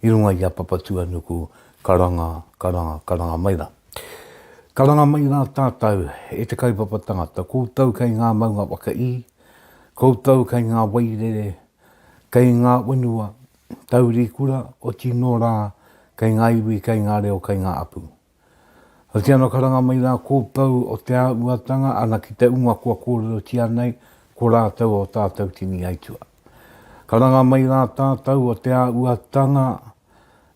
i runga i a Papatuanuku, karanga, karanga, karanga mai rā. Karanga mai rā tātou e te kaupapa tangata, koutou kei ngā maunga whakaī, koutou kei ngā wairere, kei ngā whenua, taurikura, oti nō rā, kei ngā iwi, kei ngā reo, kei ngā apu. Hoki ana ka ranga mai rā kō Pou o te āuatanga ana ki te uma kua kōrerotia nei ko rātou o tātou tini aitua. Ka ranga mai rā tātou o te āuatanga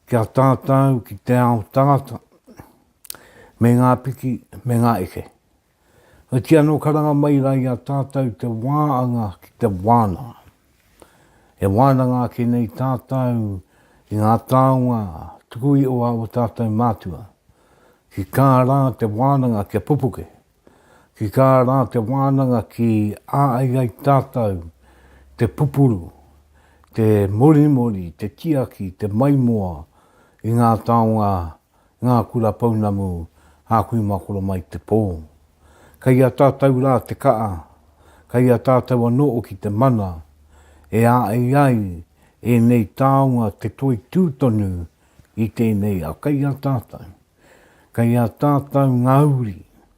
ki a tātou ki te ao tangata me ngā piki me ngā eke. Oti ano karanga mai ra i a tatou te waanga ki te wananga. E wananga ake nei tatou i nga taonga tuku ioa o tatou matua. Ki ka ra te wananga kia pupuke. Ki ka ra te wananga ki a ai ai tatou te pupuru, te morimori, te tiaki, te maimoa i nga taonga ngā kura pounamu a kui makoro mai te pō. Kei a tātou rā te ka'a, kei a tātou anō hoki te mana e āei ai ēnei taonga te toitū tonu i tēnei ao. Kei a tātou, kei a tātou ngā uri,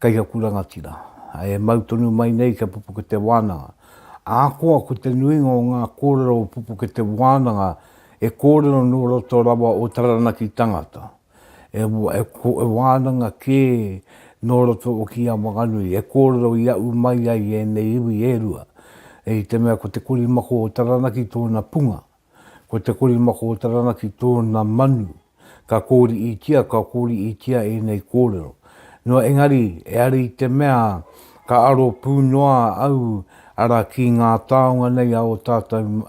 Kei aku rangatira, e mau tonu mai nei kia pupuke te wānanga. Ahakoa ko te nuinga o ngā kōrero o pupuke te wānanga he kōrero nō roto rawa o Taranaki tangata, he wānanga kē nō roto o Ki a Wanganui, he kōrero i aʻu mai ai ēnei iwi e rua, i te mea ko Te Korimako o Taranaki tōna punga, Ko te korimako o Taranaki tōna manu. Ka kōriitia, ka kōriitia ēnei kōrero. Nō engari, e are i te mea, ka aro pū noa au, arā, ki ngā taonga nei a ō tātou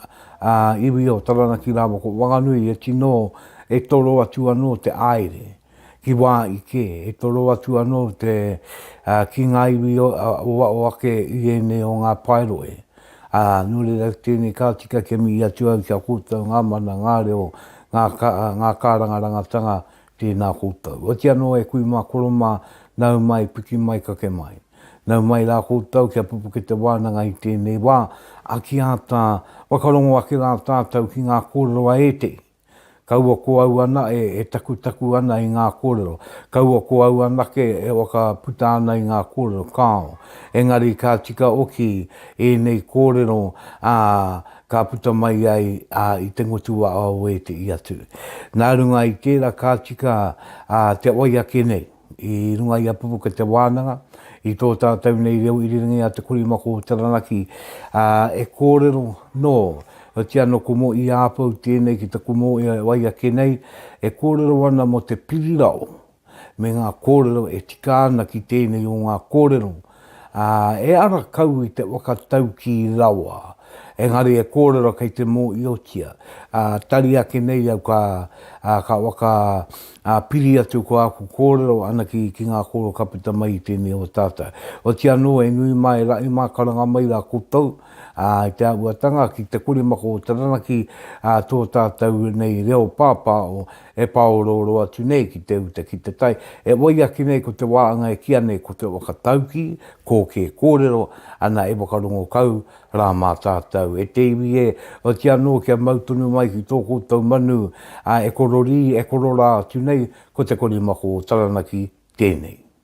iwi o Taranaki rāua ko Whanganui e tino, e toro atu anō te āere. Ki wā i kē, e toro atu anō te, ā, ki ngā iwi o ake i ēnei o ngā paeroe. Ā, nō reira tēnei ka tika kia mihi atu au ki a koutou ngā mana, ngā reo, ngā, ngā kārangarangatanga, tēnā koutou. Otiia anō e kui mā koro mā, nau mai, piki mai, kake mai. Nau mai rā koutou kia pupuke te wānanga i tēnei wā, a ki a tā, whakarongo ake rā tātou ki ngā kōrero a ētehi. Kaua ko au ana e takutaku ana i ngā kōrero, kaua ko au anake e whakaputa ana i ngā kōrero, kāo. Engari ka tika oki ēnei kōrero, ā, ka puta mai ai i te ngotuwāao e te i atu. Nā runga i tērā ka tika te wai ake nei. i runga i a Pupuke Te Wānanga, i tō tātou nei reo irirangi a Te Kori Mako o Taranaki, ā, e kōrero, nō, otiia nō Kumo i Āpou tēnei ki te Kumo e wai ake nei, e kōrero ana mō te pirirao me ngā kōrero e tika ana ki tēnei o ngā kōrero ā, e ara kau i te waka taukī rawa, engari e kōrero kei te mōiotia, ā, tari ake nei au ka, ā, ka waka, ā, piri atu ko āku kōrero ana ki, ki ngā kōrero ka puta mai i tēnei o tātou. Otiia anō e nui mai, e raʻi mākaranga mai rā koutou, ā, i te āhuatanga ki te korimako o Taranaki, ā, tō tātou nei reo pāpāo, He pāorooro atu nei ki te uta ki te tai. E oi ake nei ko te wāanga e kīa nei ko te whakataukī, kō kē kōrero, ana e whakarongo kau rā mā tātou. E te iwi e, oti anō kia mau tonu mai ki tō koutou manu, ā, e kororī, e kororā atu nei, ko te korimako o Taranaki tēnei.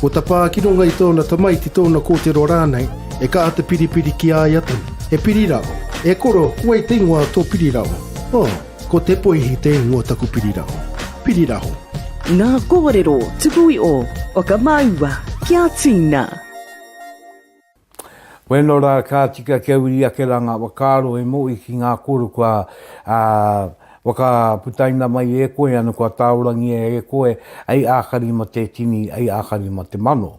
Ko ta pa ki runga i tona tamaiti, tona kotero ranei, e ka ata piripiri ki a ia tonu. He piri rao. E koro, wei te ingoa o to piri rao? Oh, ko Tepoihi te ingoa o taku piri rao. Piri raho. Nga korero tuku i o. Whakamaua kia tina. Weno ra ka tika kia wiri ake ra nga whakaaro e Mo'i ki nga koro kua whakaputaina mai e koe ano kua taorangia e koe ai akari ma te tini, ai akari ma te mano.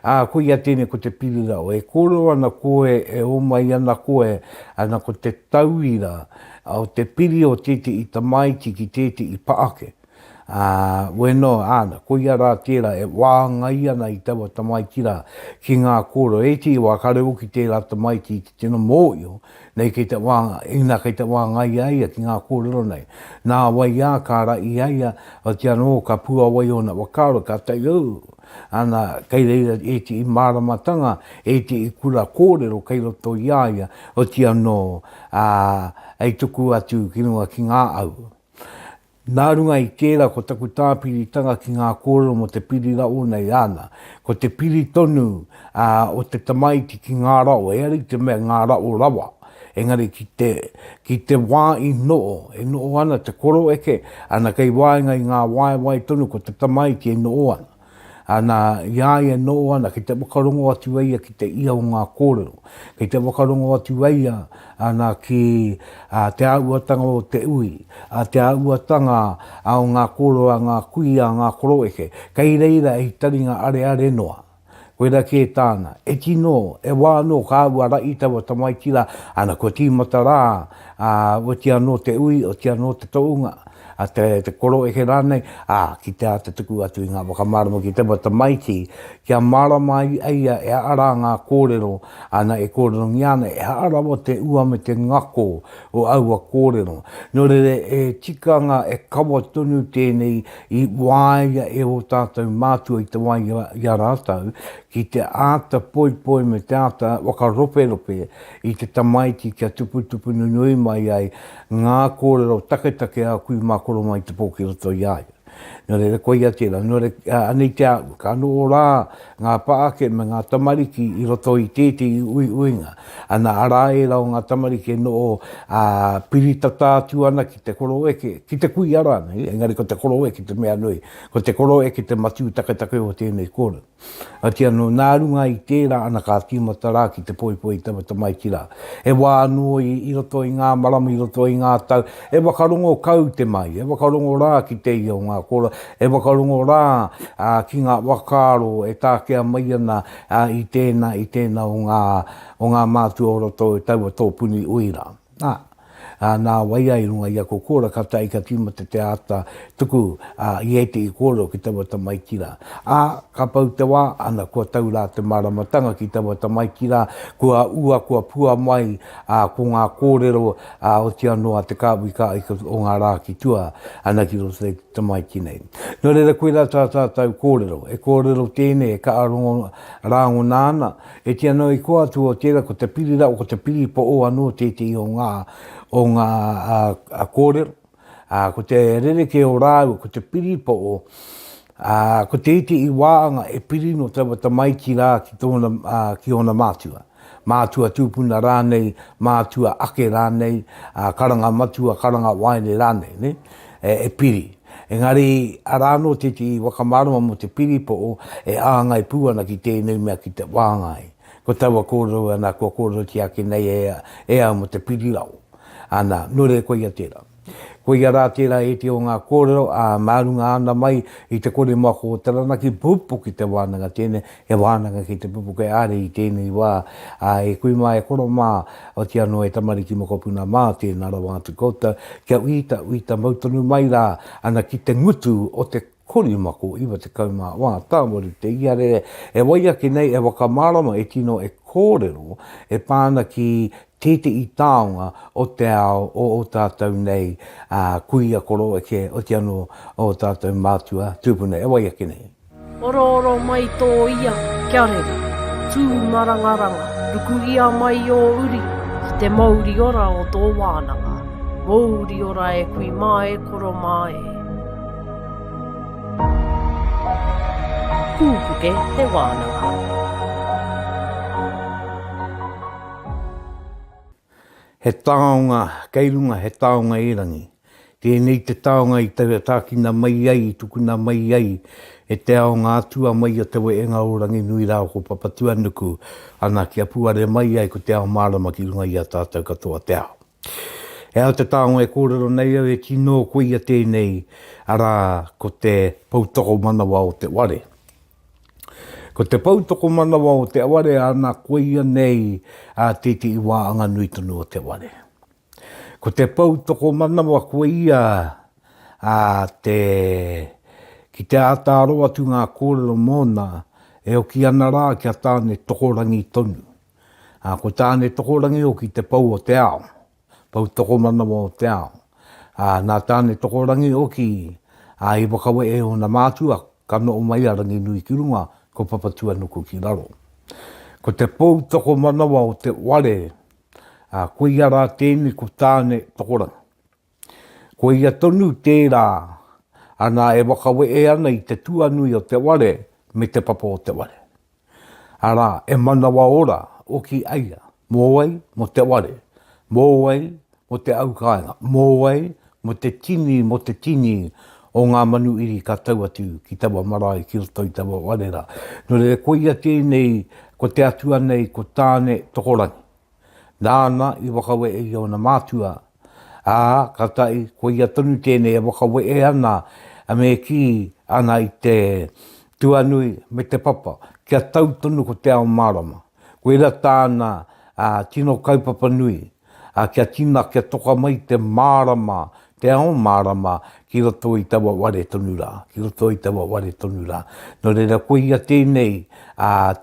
A koia tenei ko te pirirao, e koro ana koe e o mai ana koe ana ko te tauira o te piri o tete'i tamaiti ki tete'i pa ake. Ā, we noa, āna, koia rā tērā e wāngai ana i taua tamaiti rā, ki ngā kōrero, e ētehi wā kāore hoki tērā tamaiti i te tino mōhio nei kei te wā, inā kei te wāngai i a ia ki ngā kōrero nei. Nā wai ā, ka ara i a ia, oti anō, ka puāwai ōna whakaaro, kātahi au, āna, kei reira ētehi māramatanga, ētehi kura kōrero kei roto i a ia, otianō, ā, hei tuku atu ki runga ki ngā au. Nā runga i tērā ko taku tāpiritanga ki ngā kōrero mō te piri rawa nei āna, ko te piri tonu o te tamaiti ki ngā rawa, ehara i te mea ngā rawa rawa, engari ki te, ki te wā i noho, e noho ana te koroeke, ana kei waenga i ngā waewae tonu ko te tamaiti e noho ana. Ana, i a ia nō ana, kei te whakarongo atu e ia ki te ia o ngā kōrero, kei te whakarongo atu e ia, ana, ki, ā, te āhuatanga o te ui, ā, te āhuatanga, ā, o ngā kōrero a ngā kuia, a ngā koroeke. Kei reira he taringa areare noa. Koirā kē tāna. E tino, e wā anō ka āhua rahi taua tamaiti rā, ana, kua tīmata rā, ā, otia nō te ui, otia nō te tohunga, a te, te koroeke rānei, ā, ki te āta tuku atu i ngā whakamārama ki te wa tamaiti, kia mārama ai a ia e aha rā ngā kōrero ana e kōrerongia ana, e aha rawa te ua me te ngako o aua kōrero. Nō reira, he tikanga e kawa tonu tēnei i waia e ō tātou mātua i te wā i a, i a rātou, ki te āta poipoi me te āta whakaroperope, i te tamaiti kia tuputupu nunui mai ai ngā kōrero taketake a kui mā koro mai te pō ki roto i a ia. Nō reira, koia tērā. Nō reira, anei te āhua, ka noho rā ngā pā ake me ngā tamariki i roto i tētehi uiuinga. Ana, arā ērā o ngā tamariki e noho ā, piri tata atu ana ki te koroeke, ki te kuia rānei, engari ko te koroeke te mea nui, ko te koroeke te matū taketake o tēnei kōrero. Oti anō, nā runga i tērā ana ka tīmata rā ki te poipoi taua tamaiti rā. He wā anō i roto i ngā marama, i roto i ngā tau, e whakarongo kau te mahi, e whakarongo rā ki te ia o ngā kōrero, e whakarongo rā ki ngā whakaaro e takea mai ana i tēnā, i tēnā o ngā mātua o roto i taua tōpuni ui rā. Ā, nā wai ai runga i ako kōrero ka tae ka tīmata te āta tuku a Iete i kōrero ki taua tamaiti rā. Ā, ka pau te wā, ana kua tau rā te māramatanga ki taua tamaiti rā, kua ua, kua pua mai, ā, ko ngā kōrero, ā, oti anō a te kāhui ka ika o ngā rā ki tua ana ki roto i te tamaiti nei. Nō reira koirā tā tātou kōrero, e kōrero tēnei e ka ārongo rāngona ana, E te anō i kō atu o tērā ko te pirirao, ko te piripo o anō tētehi o ngā, o ngā kōrero, ā, ko te rerekē o rāua, ko te piripo o, ā, ko te iti i waanga e piri nō taua tamaiti rā ki tōna, ā, ki ōna mātua. Mātua tūpuna rānei, mātua ake rānei, ā, karanga matua, karanga waere rānei, nē? e piri. Engari, arā anō te iti whakamārama mō te piri pō e āngai pū ana ki tēnei mea ki te whāngai. Ko taua kōrero ana kua kōrerotia ake nei e, e au mō te piri rau. Ana, nō reira koia tērā. Koia rā tērā ēti o ngā kōrero, ā, mā runga ana mai i te kore mako o Taranaki, pū pū ki te wānanga tēnei, He wānanga ki te pupuke ārai i tēnei wā, ā, e kui mā, e koro mā, oti anō e tamariki mokopuna mā, tēnā rawa atu koutou, kia uita, uita mau tonu mai rā, ana ki te ngutu o te korimako, 94 tāwaru te iarere, e wai ake nei, e whakamārama, e tino e kōrero, e pā ana ki tētehi taonga o te ao o ō tātou nei kuia koroua kē, oti anō ō tātou mātua tūpuna, e wai ake nei. Orooro mai tō ia, kia rere. Tū marangaranga, ruku ia mai ō uri ki te mouri ora o tō wānanga. Mouri ora e kui mā e koro mā e. Pūpuke te wānanga. He taonga kei runga, he taonga erangi. Tēnei te taonga i tākina mai ai, i tukuna mai ai e te ao ngā atua mai o Te Wehenga o Ranginui rāua ko Papatuanuku, ana, kia puare mai ai ko te ao mārama ki runga i a tātou katoa te ao. He aha te taonga e kōrero nei au, he tino koia tēnei, arā, ko te poutokomanawa o te ware. Ko te pou tokomanawa o Te Ware ana koia nei a Titi Iwaanganui tonu o Te Ware. Ko te pou tokomanawa koia a te ki te ata aro atu ngā kōrero mōna e oki ana rā ki a Tāne Tokorangi tonu. Ko Tāne Tokorangi hoki te pou o te ao. Poutokomanawa o te Ao, ā, nā Tāne Tokorangi hoki ā, i whakawehe ōna mātua, ka noho mai a Ranginui ki runga, ko Papatūānuku ki raro. Ko te poutokomanawa o te ware, ā, koia rā tēnei ko Tāne Tokorangi. Ko ia tonu tērā ana e whakawehe ana i te tuanui o te ware me te papa o te ware. Arā, e manawa ora hoki ai ia, mō wai? Mō te ware. Mō wai? Mō te au kāinga. Mō wai? Mō te tini, mō te tini o ngā manu iri ka tau atu ki taua marae, ki roto i taua ware rā. Nō reira, koia tēnei, ko te Atua nei, ko Tāne Tokorangi. nāna i whakawehe i ōna mātua, ā, kātahi koia tonu tēnei e whakawehe ana me kī ana i te tuanui me te papa kia tau tonu ko te ao mārama. Koirā tāna tino kaupapa nui, kia tina, kia toka mai te mārama, te ao mārama ki roto i taua ware tonu rā, ki roto i taua ware tonu rā. Nō reira, koia tēnei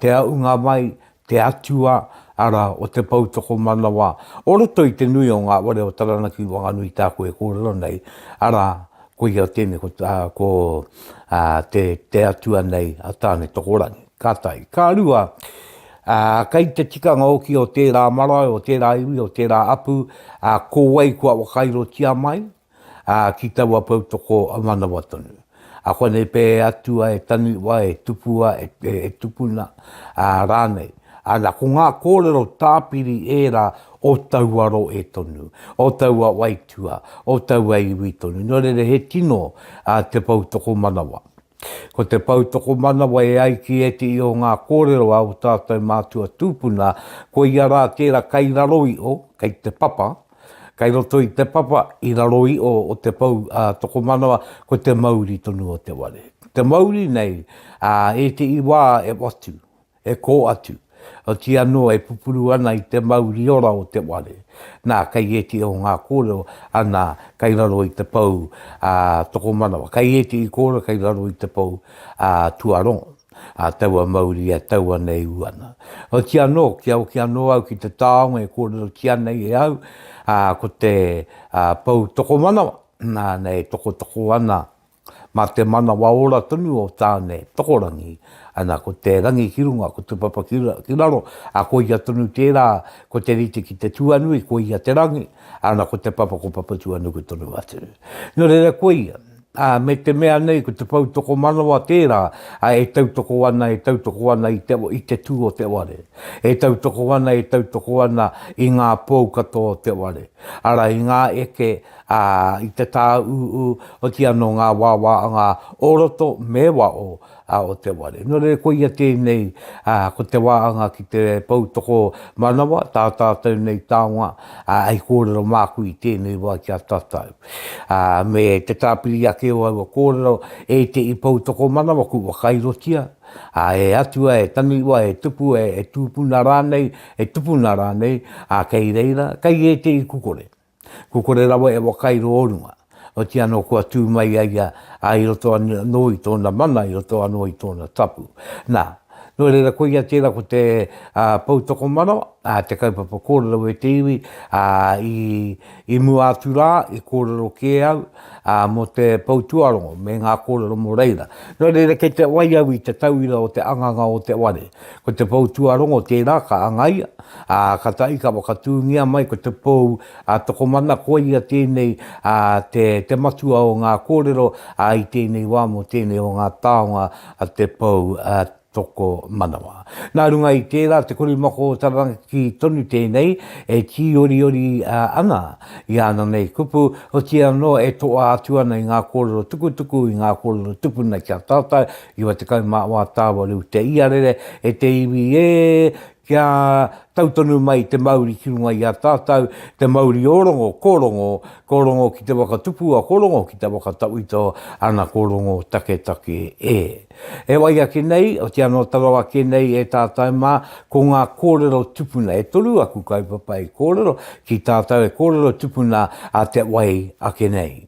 te āhunga mai, te atua, arā, o te pou tokomanawa o roto i te nui o ngā ware o Taranaki Wanganui tāku e kōrero nei, arā, koia tēnei, ko, ā, ko, ā, te, te atua nei a Tāne-tokorangi. Ka tae. Ka rua, ā, kei te tikanga hoki o tērā marae, o tērā iwi, o tērā apu, ā, ko wai kua wakairotia mai, ā, ki taua poutoko a manawa tonu. A konei pē e atua e taniwa, e tupua, e, e, e tukuna, ā, rānei. Ana, ko ngā kōrero tāpiri ērā o taua rohe tonu, o taua waitua, o taua iwi tonu. Nō reira he tino ā, te poutokomanawa. Ko te pou tokomanawa e ai ki ētehi o ngā kōrero a ō tātou mātua tūpuna, ko ia rā tērā kei raro iho, kei te papa, kei roto i te papa, i raro iho o te pou tokomanawa, ko te mauri tonu o te ware. Te mauri nei, ā ētehi wā e watu, E kō atu, otirā anō e pupuru ana i te mauri ora o te ware, nā, kei ētehi o ngā kōrero, anā, kei raro i te pou, ā, tokomanawa, kei ētehi kōrero kei raro i te pou, ā, tuarongo, ā, taua mauri e tau ana e ū ana. Otirā anō, kia hoki anō au ki te taonga e kōrerotia nei e au, ā, ko te, ā, pou tokomanawa, nāna e tokotoko ana Mā te manawa ora tonu o Tāne Tokorangi, ana, ko te rangi ki runga, ko te papa ki raro, ā, ko ia tonu tērā, ko te rite ki te tuanui, ko ia te rangi, ana, ko te papa ko Papatuanuku tonu atu. Nō reira ko ia, ā, me te mea nei ko te pou tokomanawa tērā, ā, e tautoko ana, e tautoko ana i te, i te tū o te ware. E tautoko ana, e tautoko ana i ngā pou katoa o te ware, arā, i ngā eke, ā, i te tāūū, oti anō ngā wāwāanga o roto me waho o te ware. Nō reira, koia tēnei, ā, ko te wāanga ki te pou tokomanawa, tā tātou nei taonga, ā, hei kōrero māku i tēnei wā ki a tātou. Ā, me te tāpiri ake o aua kōrero, e te i pou tokomanawa kua wakairotia, ā, e atua, e taniwha, e tupu, e, e tūpuna rānei, e tupuna rānei, ā, kei reira, kei ētehi kukore. Kua kore rawa e wakairo o runga, otiia anō kua tū mai a ia ā, i roto anō i tōna mana, i roto anō i tōna tapu. Nā, nō reira koia tērā ko te poutokomanawa, ā, te kaupapa kōrero e te iwi, ā, i, i mua atu rā, i kōrero kē au, ā, mō te pou tuarongo me ngā kōrero mō reira. Nō reira kei te wai au i te tauira o te anganga o te ware, Ko te pou tuarongo tērā ka angaia, ā, ka tahi ka whakatūngia mai ko te pou a Tokomana koia tēnei te matua o ngā kōrero i tēnei wā mō tēnei o ngā taonga a te pou tokomanawa. Nā runga i tērā te korimako o Taranaki tonu tēnei e tīoriori ana i āna nei kupu, otiia anō e toa atu ana i ngā kōrero tukutuku, i ngā kōrero tupuna ki a tātou, Iwa tekau mā wā tāwaru te iarere e te iwi ē, kia tau tonu mai te mauri ki runga i a tātau, te mauri o Rongo, ko Rongo, ko Rongo ki te waka tupua, ko Rongo ki te waka tawhito, ana ko Rongo taketake ē. E wai ake nei, otiana o tarau ake nei e tātau mā, ko ngā kōrero tupuna, e toru aku kaupapa i kōrero ki tātau e kōrero tupuna a te wai ake nei.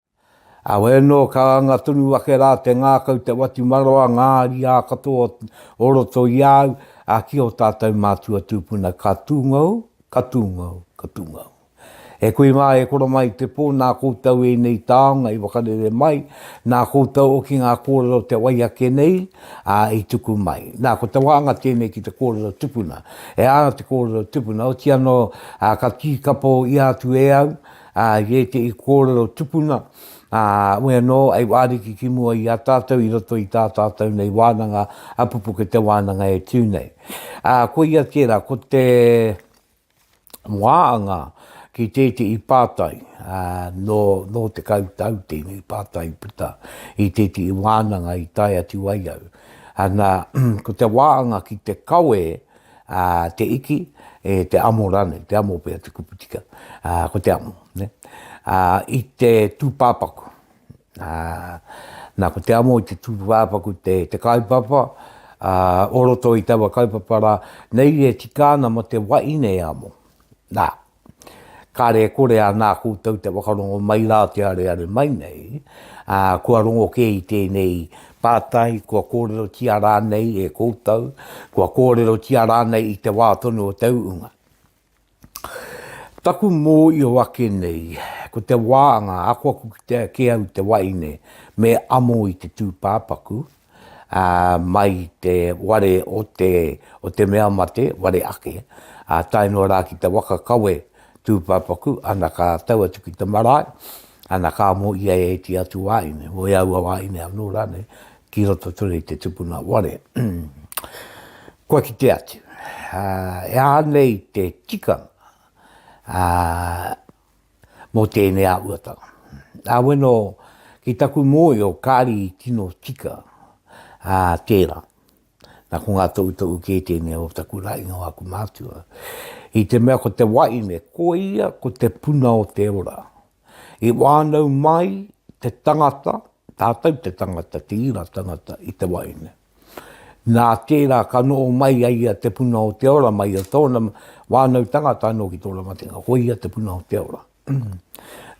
Heoi anō, ka anga tonu ake rā te ngākau, te whatumarawa, ngā ariā katoa o roto i a au, ā, ki ō tātou mātua tūpuna, ka tūngou, ka tūngou, ka tūngou. E koe mā e koro mai i te pō, nā koutou ēnei taonga i whakarere mai, nā koutou hoki ngā kōrero te wai ake nei, ā, i tuku mai. Nā, ko te wāhanga tēnei ki te kōrero tupuna. E āna te kōrero tupuna, oti anō, ā, ka tīkapa i a atu e au, Ā, i ētehi kōrero tupuna, ā, we anō, hei wāriki ki mua i a tātou i roto i tā tātou nei wānanga, a pupuke te wānanga e tū nei. Ā, koia tērā, ko te wāanga ki tētehi pātai, ā, nō, nō tekau tau tēnei pātai i puta i tētehi wānanga i tae atu ai au. Ana, ko te wāanga ki te kawe, Ā, te iki, e te amo rānei, te amo pea te kupu tika, ā, ko te amo, nē. Ā, i te tūpāpaku, ā, nā, ko te amo i te tūpāpaku te, te kaupapa, ā, o roto i taua kaupapa rā, nei e tika ana mō te wahine e amo. Nā. Kare e kore a nā koutou te whakarongo mai rā te areare mai nei, ā, kua rongo kē i tēnei pātai, kua kōrerotia rānei e koutou, kua kōrerotia rānei i te wā tonu o te uunga. Taku mōio ake nei, ko te wāanga, akoaku kitea kē au te waeine me amo i te tūpāpaku, mai i te ware o te, o te mea mate, ware ake, ā tae noa rā ki te waka kawe tūpāpaku, ana ka tau atu ki te marae, ana ka mō ia e ēti atu wāhine, mō e aua wāhine anō rānei, ki roto tonu i te tupuna ware. Kua kite atu, e aha nei te tikanga, mō tēnei āhuatanga. Aweno ki taku mōio kāri i tino tika ā tērā. Nā ko ngā toutou kē tēnei o taku rainga o aku mātua. I te mea ko te waine, ko ia ko te puna o te ora. I wānau mai te tangata, tātou te tangata, te ira tangata i te waine. Nā tērā ka noho mai a ia te puna o te ora mai a tōna wānau tangata anō ki tō Ramatenga, ko ia te puna o te ora.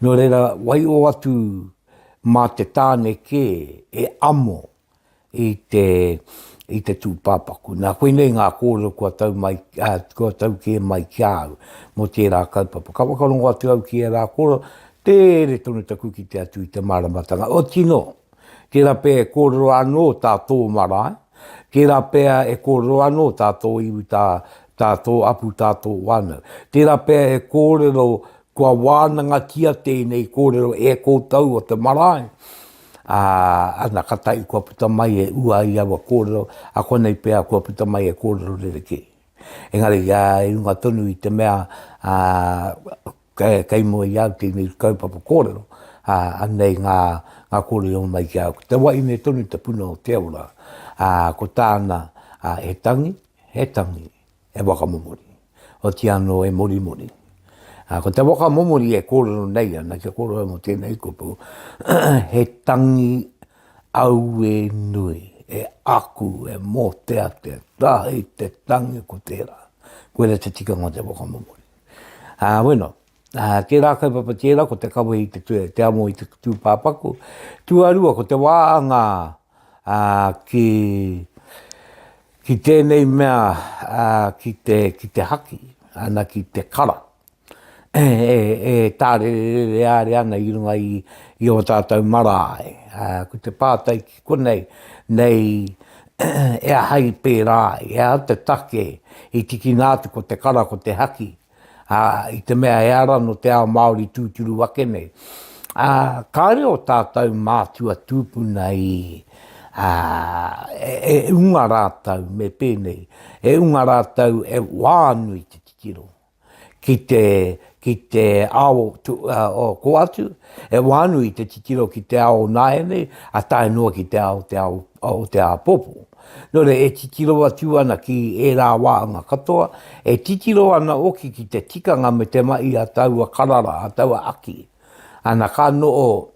Nō reira, waio atu mā te tāne kē e amo i te, i te tūpāpaku. Nā, koinei ngā kōrero kua tau, mai, a, kua tau kē mai ki a au mō tērā kaupapa. Ka whakarongo atu au ki ērā kōrero, tere tonu taku kite atu i te māramatanga. Otinō, Tērā pea e kōrero anō tā tō marae, tērā pea e kōrero anō tā tō iwi, tā, tā tō apu, tā tō whānau. Tērā pea he kōrero kua wānangatia tēnei kōrero e koutou o te marae, ā, ana ka tahi kua puta mai e ua ai aua kōrero, a konei pea kua puta mai e kōrero rerekē. Engari, ā, i runga tonu i te mea, ā, Kei mua i au tēnei kaupapa kōrero, ā, anei ngā, ngā kōrero mai ki a au. Ko te wahine tonu te puna o te ora, ā, ko tāna, ā, he tangi, he tangi e whakamomori, oti anō e morimori. Ā, ko te whakamomori e kōrero nei ana, kia kōrero au mō tēnei kupu, he tangi aue nui, e aku, e mōteatea, kāhei te tangi ko tērā. Koirā te tikanga o te whakamomori. Ā, bueno, ā, tērā kaupapa tērā ko te kawe i te, tu, te amo i te tūpāpaku. Tuarua, ko te wāanga ā, ki, ki tēnei mea, ā, ki, te, ki te haki, ana ki te kara. E, e, e tārerere āre ana i runga i, i o tātou marae. Ā, ko te pātai ki Konei, nei, e aha i pērā ai, e aha te take i tikina atu ko te kara, ko te haki, ā, i te mea he ara nō te ao Māori tūturu ake nei. Ā, kāore ō tātou mātua tūpuna i, ā, e unga rātou me pēnei, e unga rātou e wānui te titiro. ki te, ki te ao tu, o ko atu, e wānu i te titiro ki te ao nāianei, a tae noa ki te ao, te ao o te āpōpō. Nō reira, e titiro atu ana ki ērā wāhanga katoa, e titiro ana hoki ki te tikanga me te mahi a taua karara, a taua aki. Ana ka noho,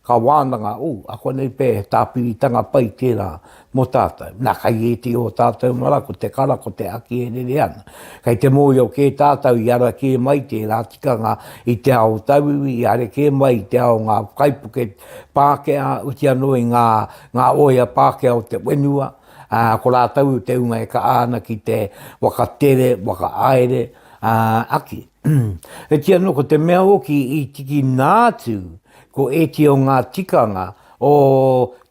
ka wānanga, ū, akonei pea he tāpiritanga pai tērā mō tātou. Nā, kei ētehi o ō tātou mara ko te kara, ko te haki e rere ana. Kei te mōhio kē tātou i ara kē mai tērā tikanga i te ao tauiwi, i are kē mai i te ao ngā kaipuke Pākehā, uti anō i ngā, ngā oea Pākehā o te whenua, ā, ko rātou te hunga e kaha ana ki te whakatere, whakahaere, ā, aki. E ti anō ko te mea hoki i tikina atu ko ēti o ngā tikanga o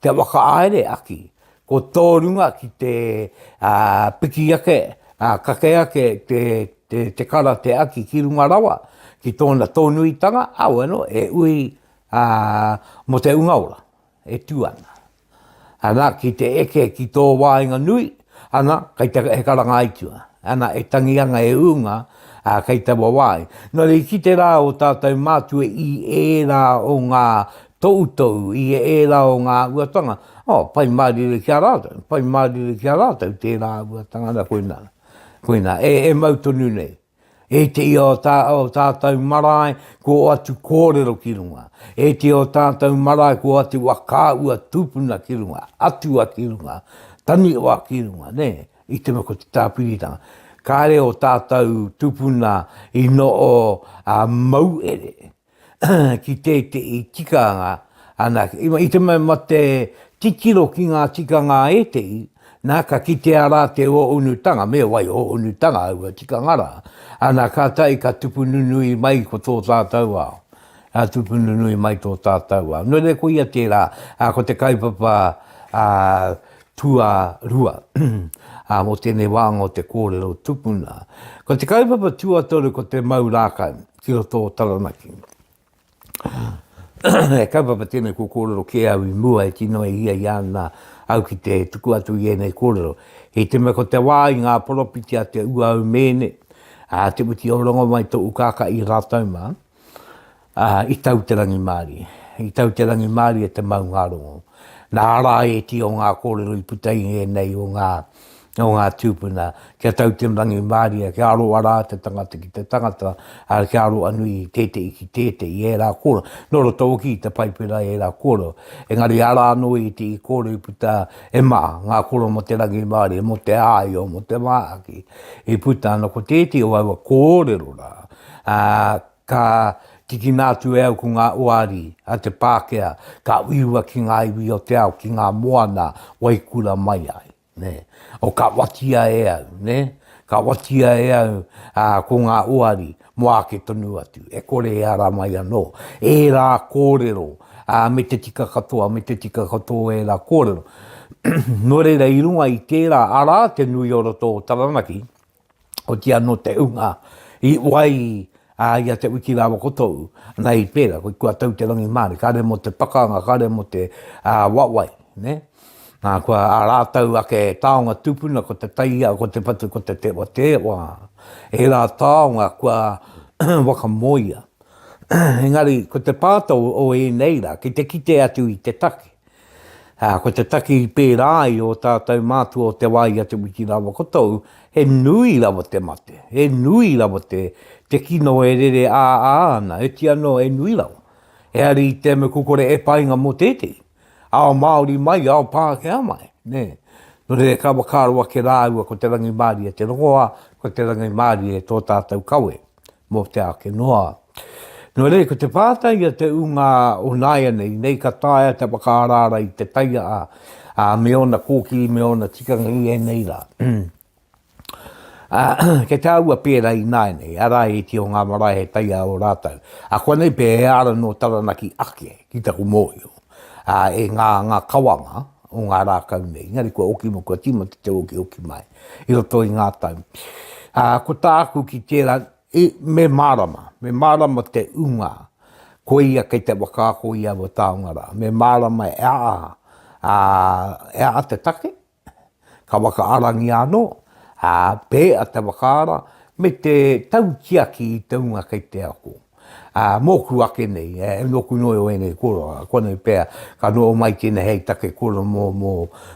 te whakahaere aki, ko tō runga ki te piki ake, kake ake te kara te aki ki runga rawa ki tōna tōnuitanga, āwano e ui mō te unga ora. E tū ana. Ana, ki te eke ki tō wāinga nui, ana, kei te, he karangāitua. Ana, e tangi ana, e ūnga, ā, kei taua wāhi. Nō reira, ki te rā o tātou mātua i ērā o ngā toutou, i ērā o ngā āhuatanga, ō, pai mārire ki a rātou, pai mārire ki a rātou tērā āhuatanga. Ana, koinā, koinā, e, e mau tonu nei. E te ia o tā, o tātou marae, ko atu kōrero ki runga. E te o tātou marae, ko atu wa kāua tūpuna ki runga, atua ki runga, taniwa ki runga, nē, i te mea ko te tāpiritanga. Kāre o tātou tūpuna i no o a mauere, ki tētehi tikanga anake. Iwa, i te mema te titiro ki ngā tikanga ētehi, nā, ka kitea rā te o unutanga, me wai o unutanga aua tikanga rā. Ana, ka tai, ka tupu nunui mai ko tō tātou ao. A tupu nunui mai tō tātou ao. Nō reira, ko ia tērā, a, ko te kaupapa a, tua rua. a, mō tēnei wānga o te kōrero tupuna. Ko te kaupapa tuatoru ko te mau rākau. ki roto o Taranaki. e kaupapa tēnei ko kōrero kē au i mua e tino e hia i ana au ki te tuku atu i ēnei kōrero. He te mea ko te wā i ngā poropiti a te ua au mēne, a te muti o rongo mai tō ukaka i rātau mā, a, i tau te rangi māri. I tau te rangi māri e te maungārongo. Nā rā e ti o ngā kōrero i puta i ēnei o ngā o ngā tūpuna, kia tau te rangimārie, kia aroa rā te tangata ki te tangata, ā, kia aroa nui tētehi ki tētehi, ērā kōrero, nō roto hoki i te Paipera ērā kōrero, engari arā anō i te i kōrero i puta, e mā, ngā kōrero mō te rangimārie, mō te āio, mō te māhaki, i puta ana ko tētehi o aua kōrero rā, ā, Ka tikina atu e au ko ngā oari a te Pākehā, ka uiua ki ngā iwi o te ao, ki ngā moana wai kura mai ai. Nē. O ka watia e au, nē, ka watia e au ā, ko ngā oari mō āke tonu atu, e kore e ara mai anō. Ērā kōrero, ā, me te tika katoa, me te tika katoa ērā kōrero. Nō reira, i runga i tērā, arā te nui o roto o Taranaki, oti anō te unga i wai a ia te wiki rawa ko tōu, ana i pērā, koe kua tau te rangi māre, kāre mō te pakanga, kāre mō te uh, wawai, ne? Nā, kua a rātau ake tāonga tūpuna, ko te taia, ko te patu, ko te tewa tewa, e rā tāonga kua wakamoia. Engari, ko te pātau o ēnei rā, ki te kite atu i te take, Ā, ko te taki pērā i ō tātou mātua o te wā i a Te Witi rāua ko tōu, he nui rawa te mate, he nui rawa te, te kino e rere ā-ā ana, oti anō he nui rawa. He hari i te mea kua kore e painga mō tētehi, ao Māori mai, ao Pākehā mai, nē. Nō reira ka whakaaro ake rāua ko te rangimārie te rongoā, ko te rangimārie tō tātou kawe. mō te āke noa. Nō reira, ko te pātai a te ūngā o nāianei, nei ka taea te whakaaraara i te taiaa, ā, me ōna kōkī, me ōna tikanga i ēnei rā. kei te aua pērā i nāianei, arā e ti o ngā marae he taiaa o rātou. A kua nei pē he ara nō Taranaki ake ki taku mōhio, ā, e ngā, ngā kawanga o ngā rākau nei, engari kua oki, kua tīmata te okihoki mai. i roto i ngā tau. Ā, ko tāku ki tērā, i, me mārama, me mārama te ūnga, ko ia kei te whakaako i aua taonga rā. Me mārama e aha, ā, e aha te take, ka whakaarangia anō, ā, pēa te whakaara, me te tautiaki i te ūnga kei te ako. Ā, mōku ake nei, e nōku noa iho ēnei koroa, koinei pea ka noho mai tēnei hei take koro mō, mō,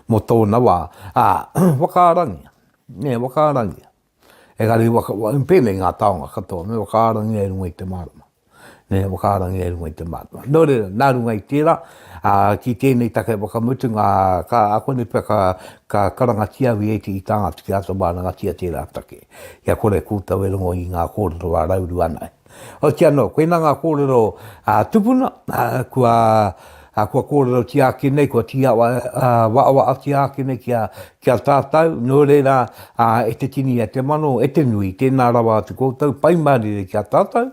mō tōna wā, ā, whakaarangia, nē, whakaarangia. Engari waka, pēnei ngā taonga katoa, me whakaarangia i runga i te mārama. Nē, whakaarangia i runga i te mārama. Nō reira, nā runga i tērā, ā, ki tēnei take whakamutunga, ka, koinei pea ka, ka karangatia, VAT, i tā Ngāti Ki Āta Mārangatia tērā take. Kia kore koutou e rongo i ngā kōrero a Rauru ana. Hoki anō, koinā ngā kōrero a tupuna, kua kōrerotia ake nei, kua tīawaawaatia ake nei ki a tātou, nō reira, e te tini, e te mano, e te nui, tēnā rawa atu koutou, pai mārire ki a tātou.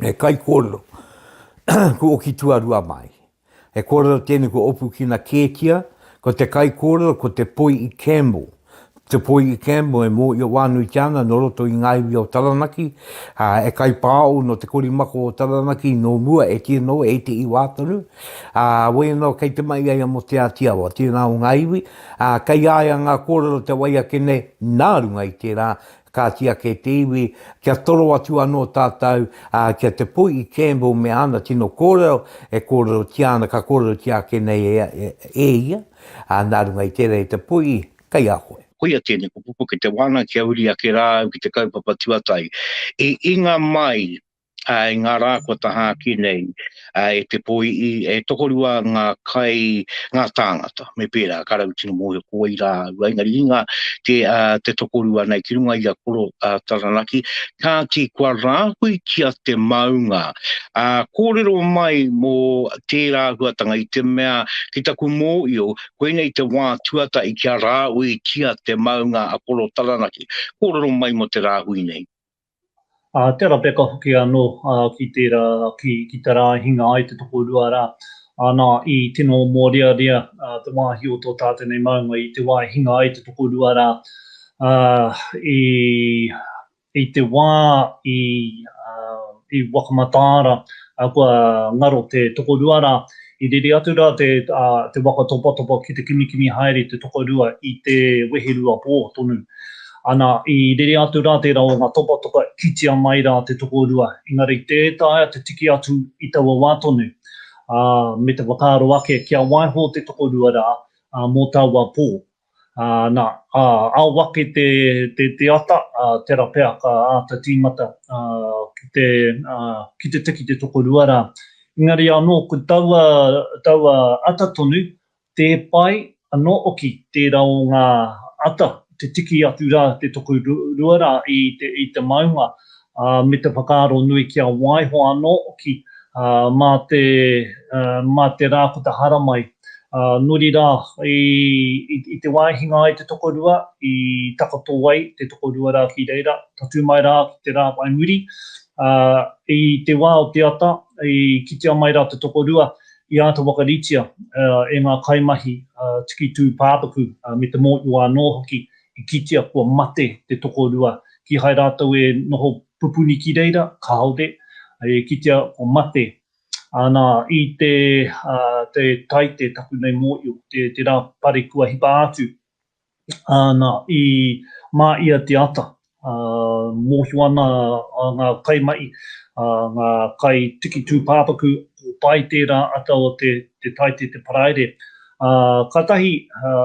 He kaikōrero, ko Oki Tuarua Mai. He kōrero tēnei ko Opukina Kētia, ko te kaikōrero ko Te Poi i Campbell. Te Poi i Campbell e mōhio wānuitia ana nō roto i ngā iwi o Taranaki, ā, e kaipāo nō te korimako o Taranaki nō mua e kī anō e te iwa tonu, ā, wai anō kei te mahi ai a Mote Āti Awa, tēnā o ngā iwi, ā, kei a ia ngā kōrero te wai ake nei nā runga i tērā Kāti ake te iwi, kia toro atu anō tātou, ā, ki a Te Poi i Campbell me āna tino kōrero e kōrerotia ana, ka kōrerotia ake nei e, e ia, ā, nā runga i tērā e Te Poi, kei a koe. Koia tēnei kupu, ko Te Wānanga kia uri ake rā au ki te kaupapa tuatahi. I inga mai i ngā rā kua tahā ki nei, e te poi'i, e tokorua ngā kai, ngā tāngata, me pērā, ka raru tino mōhio ko wai rā au, engari i ngā te, te tokorua nei ki runga i a Koro Taranaki, kāti kua rāhuitia te maunga. Kōrero mai mō tērā huatanga i te mea, ki taku mōio, koinei te wā tuatahi kia rāuitia te maunga a Koro Taranaki. Kōrero mai mō te rāhui nei. ā, te arapeka hoki anō ki tērā, ki te rā i hinga ai te tokorua rā. Anā, i tino mōrearea te wāhi o tō tātou nei maunga i te wā i hinga ai te tokorua rā, ā, i te wā i wakamataara kua ngaro te tokorua rā, I rere atu rā te waka topatopa ki te kimikimi haere te tokorua i te wehe rua pō tonu. Ana, i rere atu rā tērā o ngā topatopa i kitea mai rā te tokorua, engari tē taea te tiki atu i taua wā tonu, ā, me te whakaaro ake kia waiho te tokorua rā mō taua pō. Na, ao ake te ata, tera pea ka ata tīmata ki te tiki te tokorua ra. Engari anō ko taua ata tonu, tē pai anō oki tēra o ngā ata te tiki atu ra te tokorua ra i te maunga. ā, me te whakaaro nui kia waiho anō hoki mā te, mā te rā ko te haramai. Ā, nuri rā, i, i te wā e hinga ai te tokorua, i takoto ai te tokorua rā ki reira, tatū mai rā ki te rā whai muri. Ā, i te wā o te ata, i kitea mai rā te tokorua, i āta whakaritea e ngā kaimahi tiki tū pāpaku me te mōiwa anō hoki i kitea kua mate te tokorua, kīhai rātou e noho pupuni ki reira, kāore, e kitea kua mate. Ana, i te, ā, te Taite, taku nei mōio, te, te rā pare kua hipa atu. Ana, i mā ia te ata, ā, mōhio ana ngā kaimahi, ā, ngā kai tiki tūpāpaku, ko Pai tērā ata o te, te Taite te Paraire, Ā, kātahi,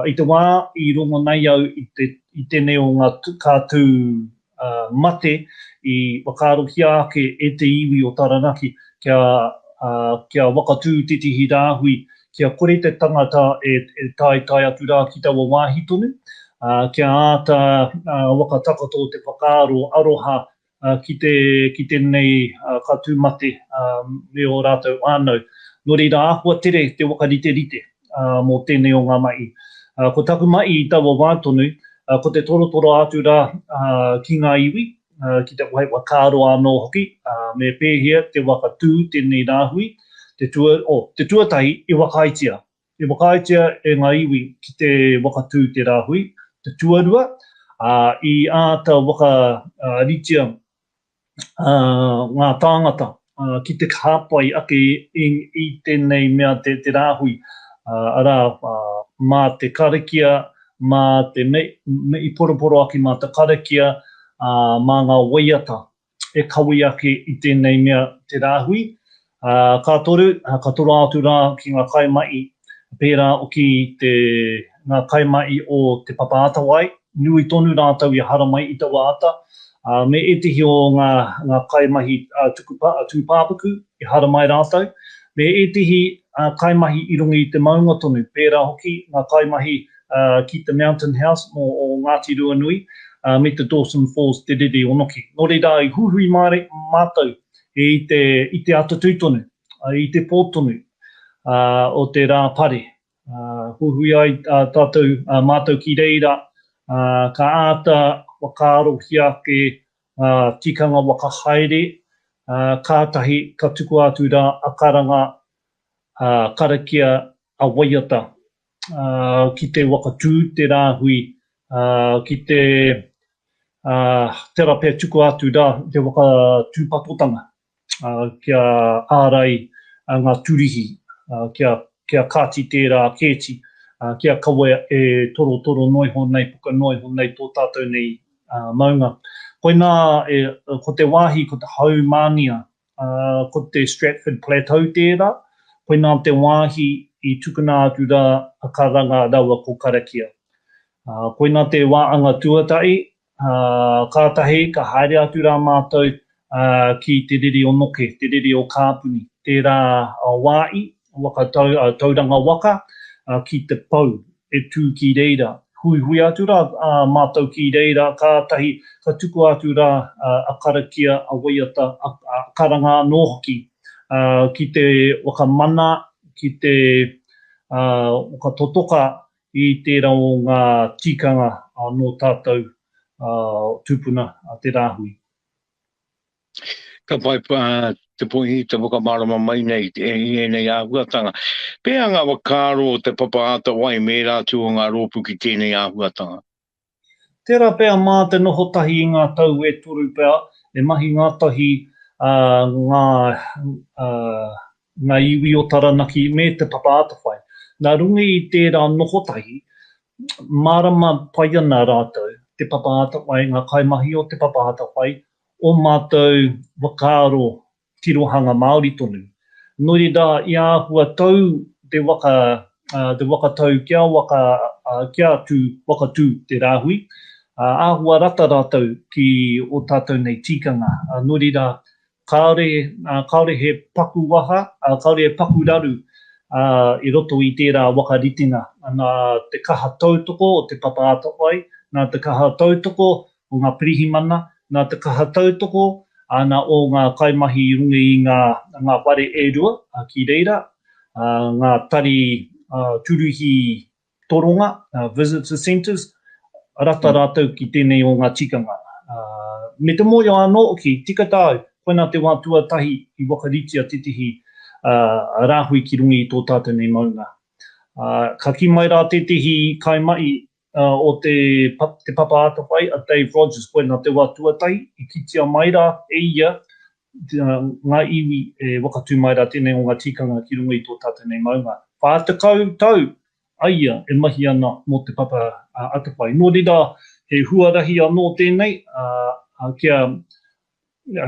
i te wā i rongo nei au i te, i tēnei o ngā tū, kā tū, ā, mate, i whakaarohia ake e te iwi o Taranaki kia, ā, kia whakatū tētehi rāhui kia kore te tangata e, e taetae atu rā ki taua wāhi tonu, ā, kia āta, ā, whakatakoto te whakaaro aroha ki te, ki tēnei ka tū mate me ō rātou whānau. Nō reira, āhua tere te whakariterite mō tēnei o ngā mahi. Ko taku mahi i taua wā tonu, ko te torotoro atu rā ki ngā iwi, ki te whai whakaaro anō hoki, me pēhea te whakatū tēnei rāhui, te, oh, te tuatahi i whakaaetia, I whakaaetia e ngā iwi ki te whakatū te rāhui, te tuarua, ā, i āta whakaritea ngā tāngata ki te hāpai ake i tēnei mea te rāhui, arā, mā te karakia, mā te, me i poroporoaki mā te karakia, mā ngā waiata e kawī ake i tēnei mea te rāhui, ā, ka toru, ka toroa atu rā ki ngā kaimahi, pērā ki te, ngā kaimahi o Te Papa Atawai, nui tonu rātou i haramai i taua ata, ā, me ētehi o ngā, ngā kaimahi tuku pā, tūpāpaku, i haramai rātou, me ētehi, ā, kaimahi i runga i te maunga tonu, pērā hoki ngā kaimahi, ki te Mountain House mō o Ngāti Ruanui, me te Dawson Falls te riri o Noki. Nō reira, i huihui māre, mātou i te, i te atatū tonu, i te pō tonu o te rā pare. Huihui ai tātou, mātou ki reira, ka āta whakaarohia te tikanga waka haere, kātahi ka tukua atu rā a Karanga, karakia a waiata. ki te waka tū te rāhui, ki te tera pea tuku atu ra te waka tūpatotanga kia ārai ngā turihi kia kāti tērā kēti kia kawe e torotoro noa iho nei puka noa iho nei tō tātou nei maunga. Koinā ko te wāhi ko te haumānia Ā, ko te Stratford Plateau tērā, koinā te wāhi i tukuna atu rā a Karanga raua ko Karakia. Ā, koinā te wā anga tuatahi, ā, kātahi ka haere atu rā mātou, ā, ki te riri o Noke, te riri o Kāpuni. Tērā wā i, Waka tau, a, Tauranga waka, a, ki te pou, e tū ki reira. Huihui atu rā, a, mātou ki reira, kātahi ka tukua atu rā, a, a karakia, a waiata, a, a karanga anō hoki, a, ki te whakamana, ki te, a, whakatotoka i tērā o ngā tikanga, a, nō tātou, a, tūpuna, a, te rāhui. Ka whai te poihi te whakamārama mai nei i ēnei āhuatanga. Pēhea ngā whakaaro o Te Papa Atawai me ērā atu o ngā rōpū ki tēnei āhuatanga? Tērā pea mā te noho tahi i ngā tau e toru pea, e mahi ngātahi ngā iwi o Taranaki me Te Papa Atawhai. Nā runga i tērā noho tahi, mārama pai ana rātou, Te Papa Atawai, ngā kaimahi o Te Papa Atawhai, ō mātou whakaaro tirohanga Māori tonu. Nō reira, i āhua tau te waka, te waka tau kia waka, kia tū, waka tū te rāhui, āhua rata rātou ki ō tātou nei tīkanga. Nō reira, kāore, kāore he paku waha, kāore he paku raru i roto i tērā waka ritenga. Nā te kaha tautoko o te papa atawhai, nā te kaha tautoko o ngā pirihimana, nā te kaha tautoko āna o ngā kaimahi i runga i ngā whare e rua ki reira, ngā tari tūruhi toronga, visitor centres, rata rātou ki tēnei o ngā tikanga. Me te mōhio anō hoki, tika tāu, koinā te wā tuatahi i whakaritea tētehi rāhui ki runga i tō tātou nei maunga. Ka kī mai rā tētehi kaimahi, Ā, o te, te papa atawhai a Dave Rogers, koinā te wā tuatahi i kitea mai rā e ia ngā iwi e wakatū mai rā tēnei o ngā tikanga ki runga i tō tātou nei maunga. Whā tekau tau a ia e mahi ana mō te papa atawhai. Nō reira, he huarahi anō tēnei, ā, kia,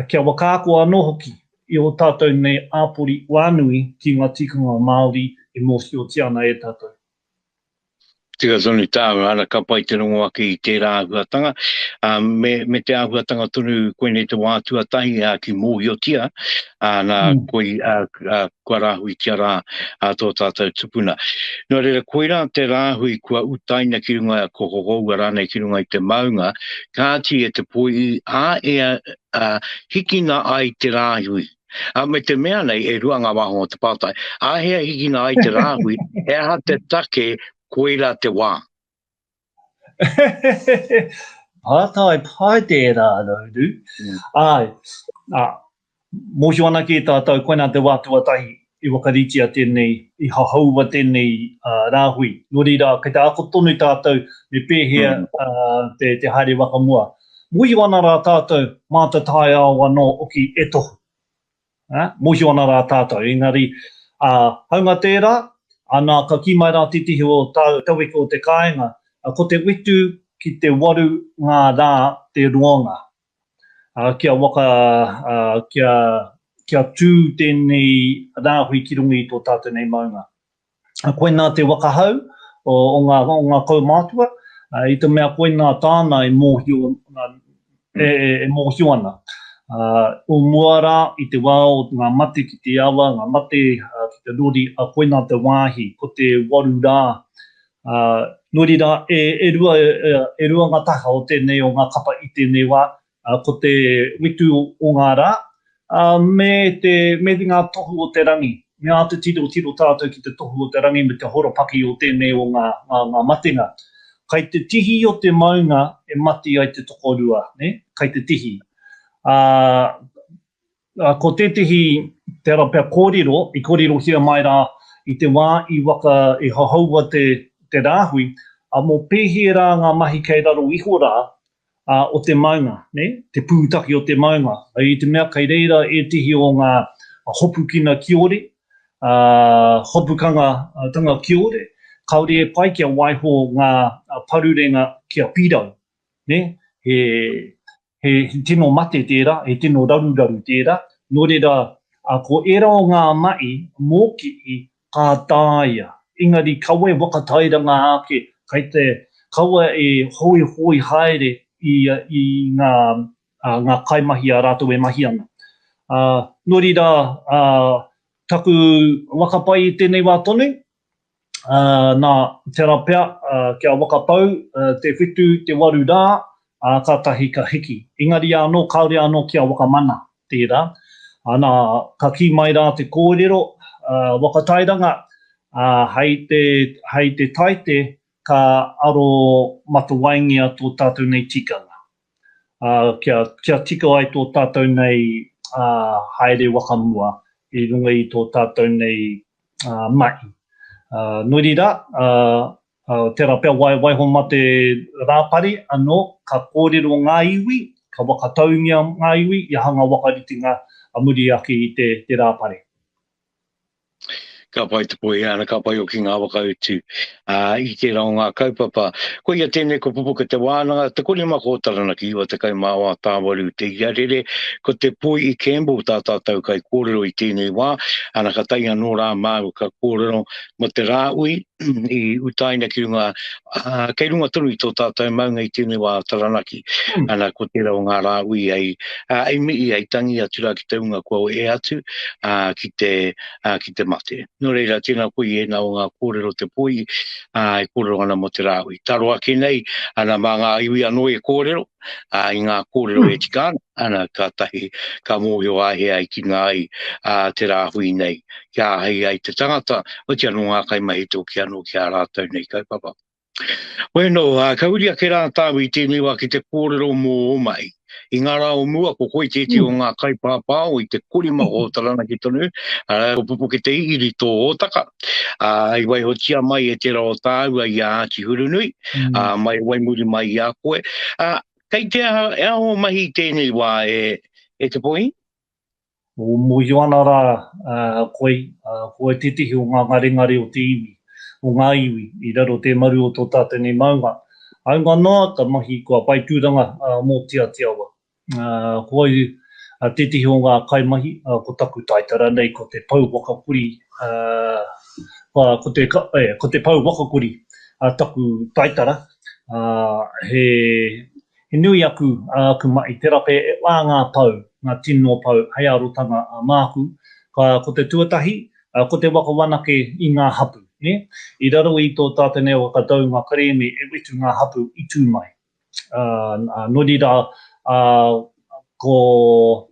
kia whakaako anō hoki i ō tātou nei āpori whānui ki ngā tikanga Māori e mōhiotia ana e tātou. Tika tonu tāu ara ka pai te rongo ake i tērā āhuatanga, ā, me, me te āhuatanga tonu koinei te wā tuatahi, ā, ki mōhiotia, ā, nā, koi, ā, ā, kua rāhuitia rā, ā, tō tātou tupuna. Nō reira, koirā te rāhui kua utaina ki runga, kua hohoua rānei ki runga i te maunga, kāti e te poi, ā, e, ā, hikina ai te rāhui. A me te mea nei, e rua ngā wāhanga o te pātai, āhea hikina ai te rāhui, he aha te take koira te wā? pātai pai tērā, Rauru. Mm. Ai, a, mōhio ana ki tātou, koina te wā tuatahi I whakaritea tēnei, i hahaua tēnei rāhui. Nō reira, kei te ako tonu tātou me pēhea te haere waka mua. Mōhio ana rā tātou mā te taiao anō hoki e tohu. Mōhio ana rā tātou. Engari, hāunga tērā, nā, ka kī mai rā tētehi o tāu tauwheko o te kāinga, ko te whitu ki te waru ngā rā te roanga. ā, kia waka, ā, kia, kia tū tēnei rāhui ki runga i tō tātou nei maunga. Ā, koinā te waka hau o, o ngā, o ngā kaumātua, ā, i te mea koinā tāna e mōhio, ā, e, e, e mōhio ana. Ā, o mua rā, i te wā o ngā mate ki te awa, ngā mate, ā, ki te rori, ā, koinā te wāhi, ko te waru rā, Ā, nō reira, e, e rua, e rua ngā taha o tēnei o ngā kapa i tēnei wā, ā, ko te Witu o ngā Rā, ā, me te, me ngā Tohu o te Rangi. Me āta tirotiro tātou ki te Tohu o te Rangi me te horopaki o tēnei o ngā, ngā, ngā matenga. Kai te tihi o te maunga e mati ai te tokorua, nē? Kai te tihi. Ā, Ā, ko tētehi, te ara pea kōrero, i kōrerohia mai rā i te wā i waka, i hohoua te, te rāhui, ā, mō pēhea rā ngā mahi kei raro iho rā, ā, o te maunga, nē, te pūtake o te maunga, i te mea kei reira ētehi o ngā hopukina kiore, ā, hopukanga tanga kiore, kāore e pai kia waiho ngā parurenga kia pirau, nē, he, he tino mate tērā, he tino raruraru tērā, nō reira, ā, ko ērā o ngā mahi mōkihi ka taea, engari kaua e whakatairanga ake, kei te, kaua e hoihoi haere i, i ngā, ā, ngā kaimahi a rātou e mahi ana. Ā, nō reira, ā, taku waka pai i tēnei wā tonu, ā, nā, tērā pea, ā, kia waka tau, ā, te whitu, te waru rā, ā, kātahi ka hiki. Engari anō, kāore anō kia waka mana, tērā. Ā, nā, ka kī mai rā te kōrero, ā, waka tairanga, ā, hei te, hei te taite, ka aro matawaingia tō tātou nei tikanga. ā, kia, kia tika ai tō tātou nei, ā, haere waka mua i runga i tō tātou nei, ā, mahi. Ā, nō reira, ā, ā, tērā pea wai, waiho mā te rāpare anō, ka kōrero ngā iwi, ka whakataungia ngā iwi i hanga waka ritenga a muri ake i te, te rāpare. Ka pai te pohe ana, ka pai hoki ngā whakautu i tērā o ngā kaupapa. Koia tēnei ko Pupuke Te Wānanga, te korimako o Taranaki, 90 mā wā tāwaru te ia rere. Ko Te Poi i Campbell tā tātou kai kōrero i tēnei wā. Ana ka tae anō rā māua ka kōrero mō te Rāui i utaina ki runga Uh, kei runga tonu i tō tātou maunga i tēnei wā Taranaki, mm. ana ko tērā o ngā rā ui ai, uh, ai mii, ai tangi atu rā ki te unga kua o e atu uh, ki, te, uh, ki te mate. Nō reira, tēnā koe i ena o ngā kōrero te poi, uh, e kōrero ana mo te rā ui. Taro ake nei, ana mā ngā iwi anō e kōrero, ā, i ngā kōrero e tika ana, kātahi ka mōhio a hea i kina ai ā, te rāhui nei, kia āhei ai te tangata, otirā nō ngā kaimahi tōki anō ki ā rātou nei kaupapa. Bueno, ā, ka uri ake rā tāu i tēnei wā ki te kōrero mō ō mahi. I ngā rā o mua, ko koe tētehi o ngā kaipāpāo i te kori maho o Taranaki tonu, arā, ko Pupuketei Iri tō hōtaka. Ā, i waihotia mai e tērā o tāua i a Āti Hurunui, mm. ā, mai wai muri mai i a koe. Ā, kei te aha, e aho mahi tēnei wā e, e te pohi? O mohio ana rā uh, koe, uh, koe tētehi o ngā ngarengare o te iwi, o ngā iwi, i raro te maru o tō tātou nei maunga. Aunga noa, ka mahi kua pai tūranga uh, mō Te Atiawa. Koau tētehi o ngā kaimahi ko taku taitara nei ko te Pou Wakakuri ko te Pou Wakakuri taku taitara he nui aku aku mahi tera pea e whā ngā pou ngā tino pou hei arotanga māku ko te tuatahi ko te waka whanake i ngā hapu i raro i tō tātou nei waka taunga kerēme e wetu ngā hapu i tū mai ā, nō reira, ā, ko,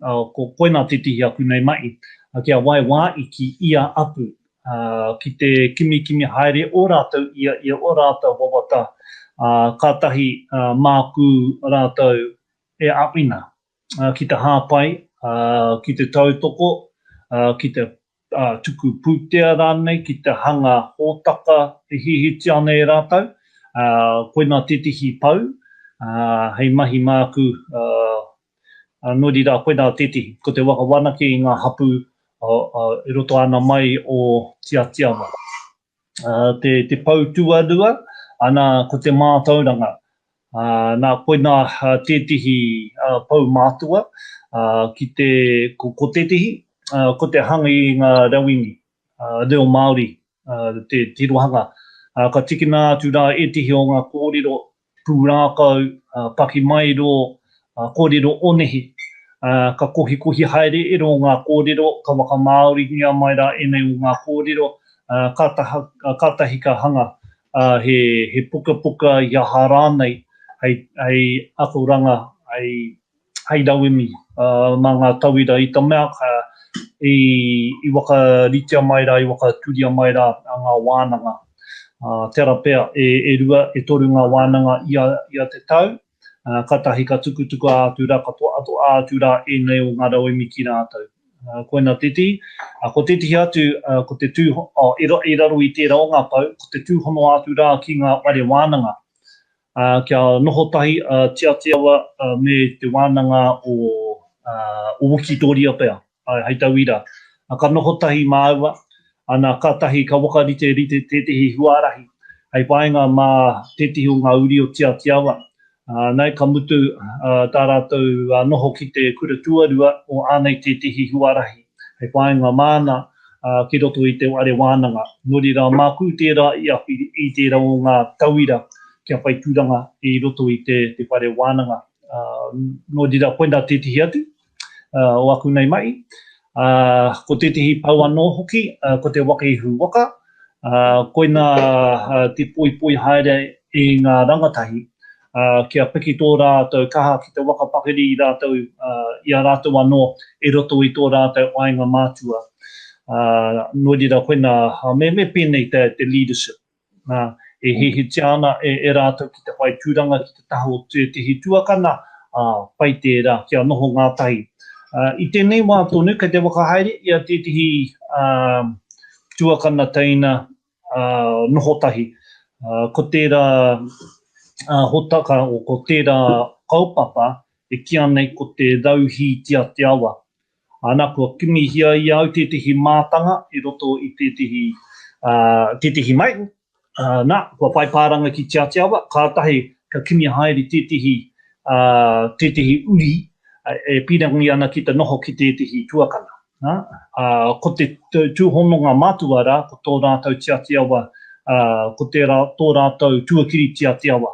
ā, ko koinā tētehi aku nei mahi, ā, kia wai wā i ki ia apu, ā, ki te kimikimi haere ō rātou ia i ō rātou wawata, ā, kātahi, ā, māku rātou e āwhina. ki te hāpai, ki te tautoko, ki te tuku pūtea rānei, ki te hanga hōtaka e hihiti ana e rātou, koinā tētehi pou hei mahi māku, nō reira koinā tētehi, ko te whakawhanake i ngā hapū i roto āna mai o Tiatia noa. te pou tuarua, ana ko te mātauranga. Nā koina tētehi pou mātua, ki te, ko tētehi, ko te hanga i ngā rauemi, reo Māori, te tirohanga. Ka tikina atu rā ētehi o ngā kōrero pūrākau, pakimaero, kōrero onehi, ka kohikohi haere ero o ngā kōrero, ka whakamāoringia mai rā ēnei o ngā kōrero, kātahi ka hanga he pukapuka i aha rānei hei akoranga, hei hei rauemi mā ngā tauira i te mea ka, i, i whakaritea mai rā, i whakatūria mai rā ngā wānanga. Tērā pea, e, e rua, e toru ngā wānanga ia, ia te tau, kātahi ka tukutuku atu rā, ka toatoa atu rā ēnei o ngā rauemi ki rātou. Koina tētehi, ko tētehi atu, ko te tū, oh, i raro i tērā o ngā pou, ko te tūhono atu rā ki ngā whare wānanga. Ā, kia noho tahi a Tiatiawa me te wānanga o Wikitōria pea, āe, hei tauira, ka noho tahi māua, ana, kātahi ka whakariterite tētehi huarahi hei whāinga mā tētehi o ngā uri o Tiatiawa. Nē, ka mutu tā rātou noho ki te kura tuarua o ānei tētehi huarahi. hei whāinga māna ki roto i te whare wānanga. Nō reira, māku tērā i aku i tērā o ngā tauira kia whai tūranga i roto i te whare wānanga. Nō reira, koinā tētehi atu o aku nei mahi. Ko tētehi pou anō hoki, ko te waka ihu waka, koinā te poipoi haere i ngā rangatahi. ā, kia piki tō rātou kaha ki te waka pakari i rātou, ā, i a rātou anō i roto i tō rātou āinga mātua. Ā, nō reira koinā, ā, me, me pēnei te, te leadership, ā, e hihitia ana e, e rātou ki te whai tūranga ki te taha o tētehi tuakana, ā, pai tērā kia noho ngātahi. Ā, i tēnei wā tonu kei te whakahaere i a tētehi, ā, tuakana teina uh, noho tahi. Uh, ko tērā uh, hotaka o ko tērā kaupapa e ki anei ko te rauhī tia te awa. Ana kua kimihia i au tētehi mātanga i roto i tētehi, uh, tētehi mai. Uh, nā, kua whai pāranga ki tia te awa, kātahi ka kimi haere tētehi, uh, tētehi uri uh, e pīrangi ana ki te noho ki tētehi tuakana. Nā, ā, ko te tūhononga matua rā, ko tō rātou tiatiawa, ā, ko tērā tō rātou tuakiri tiatiawa.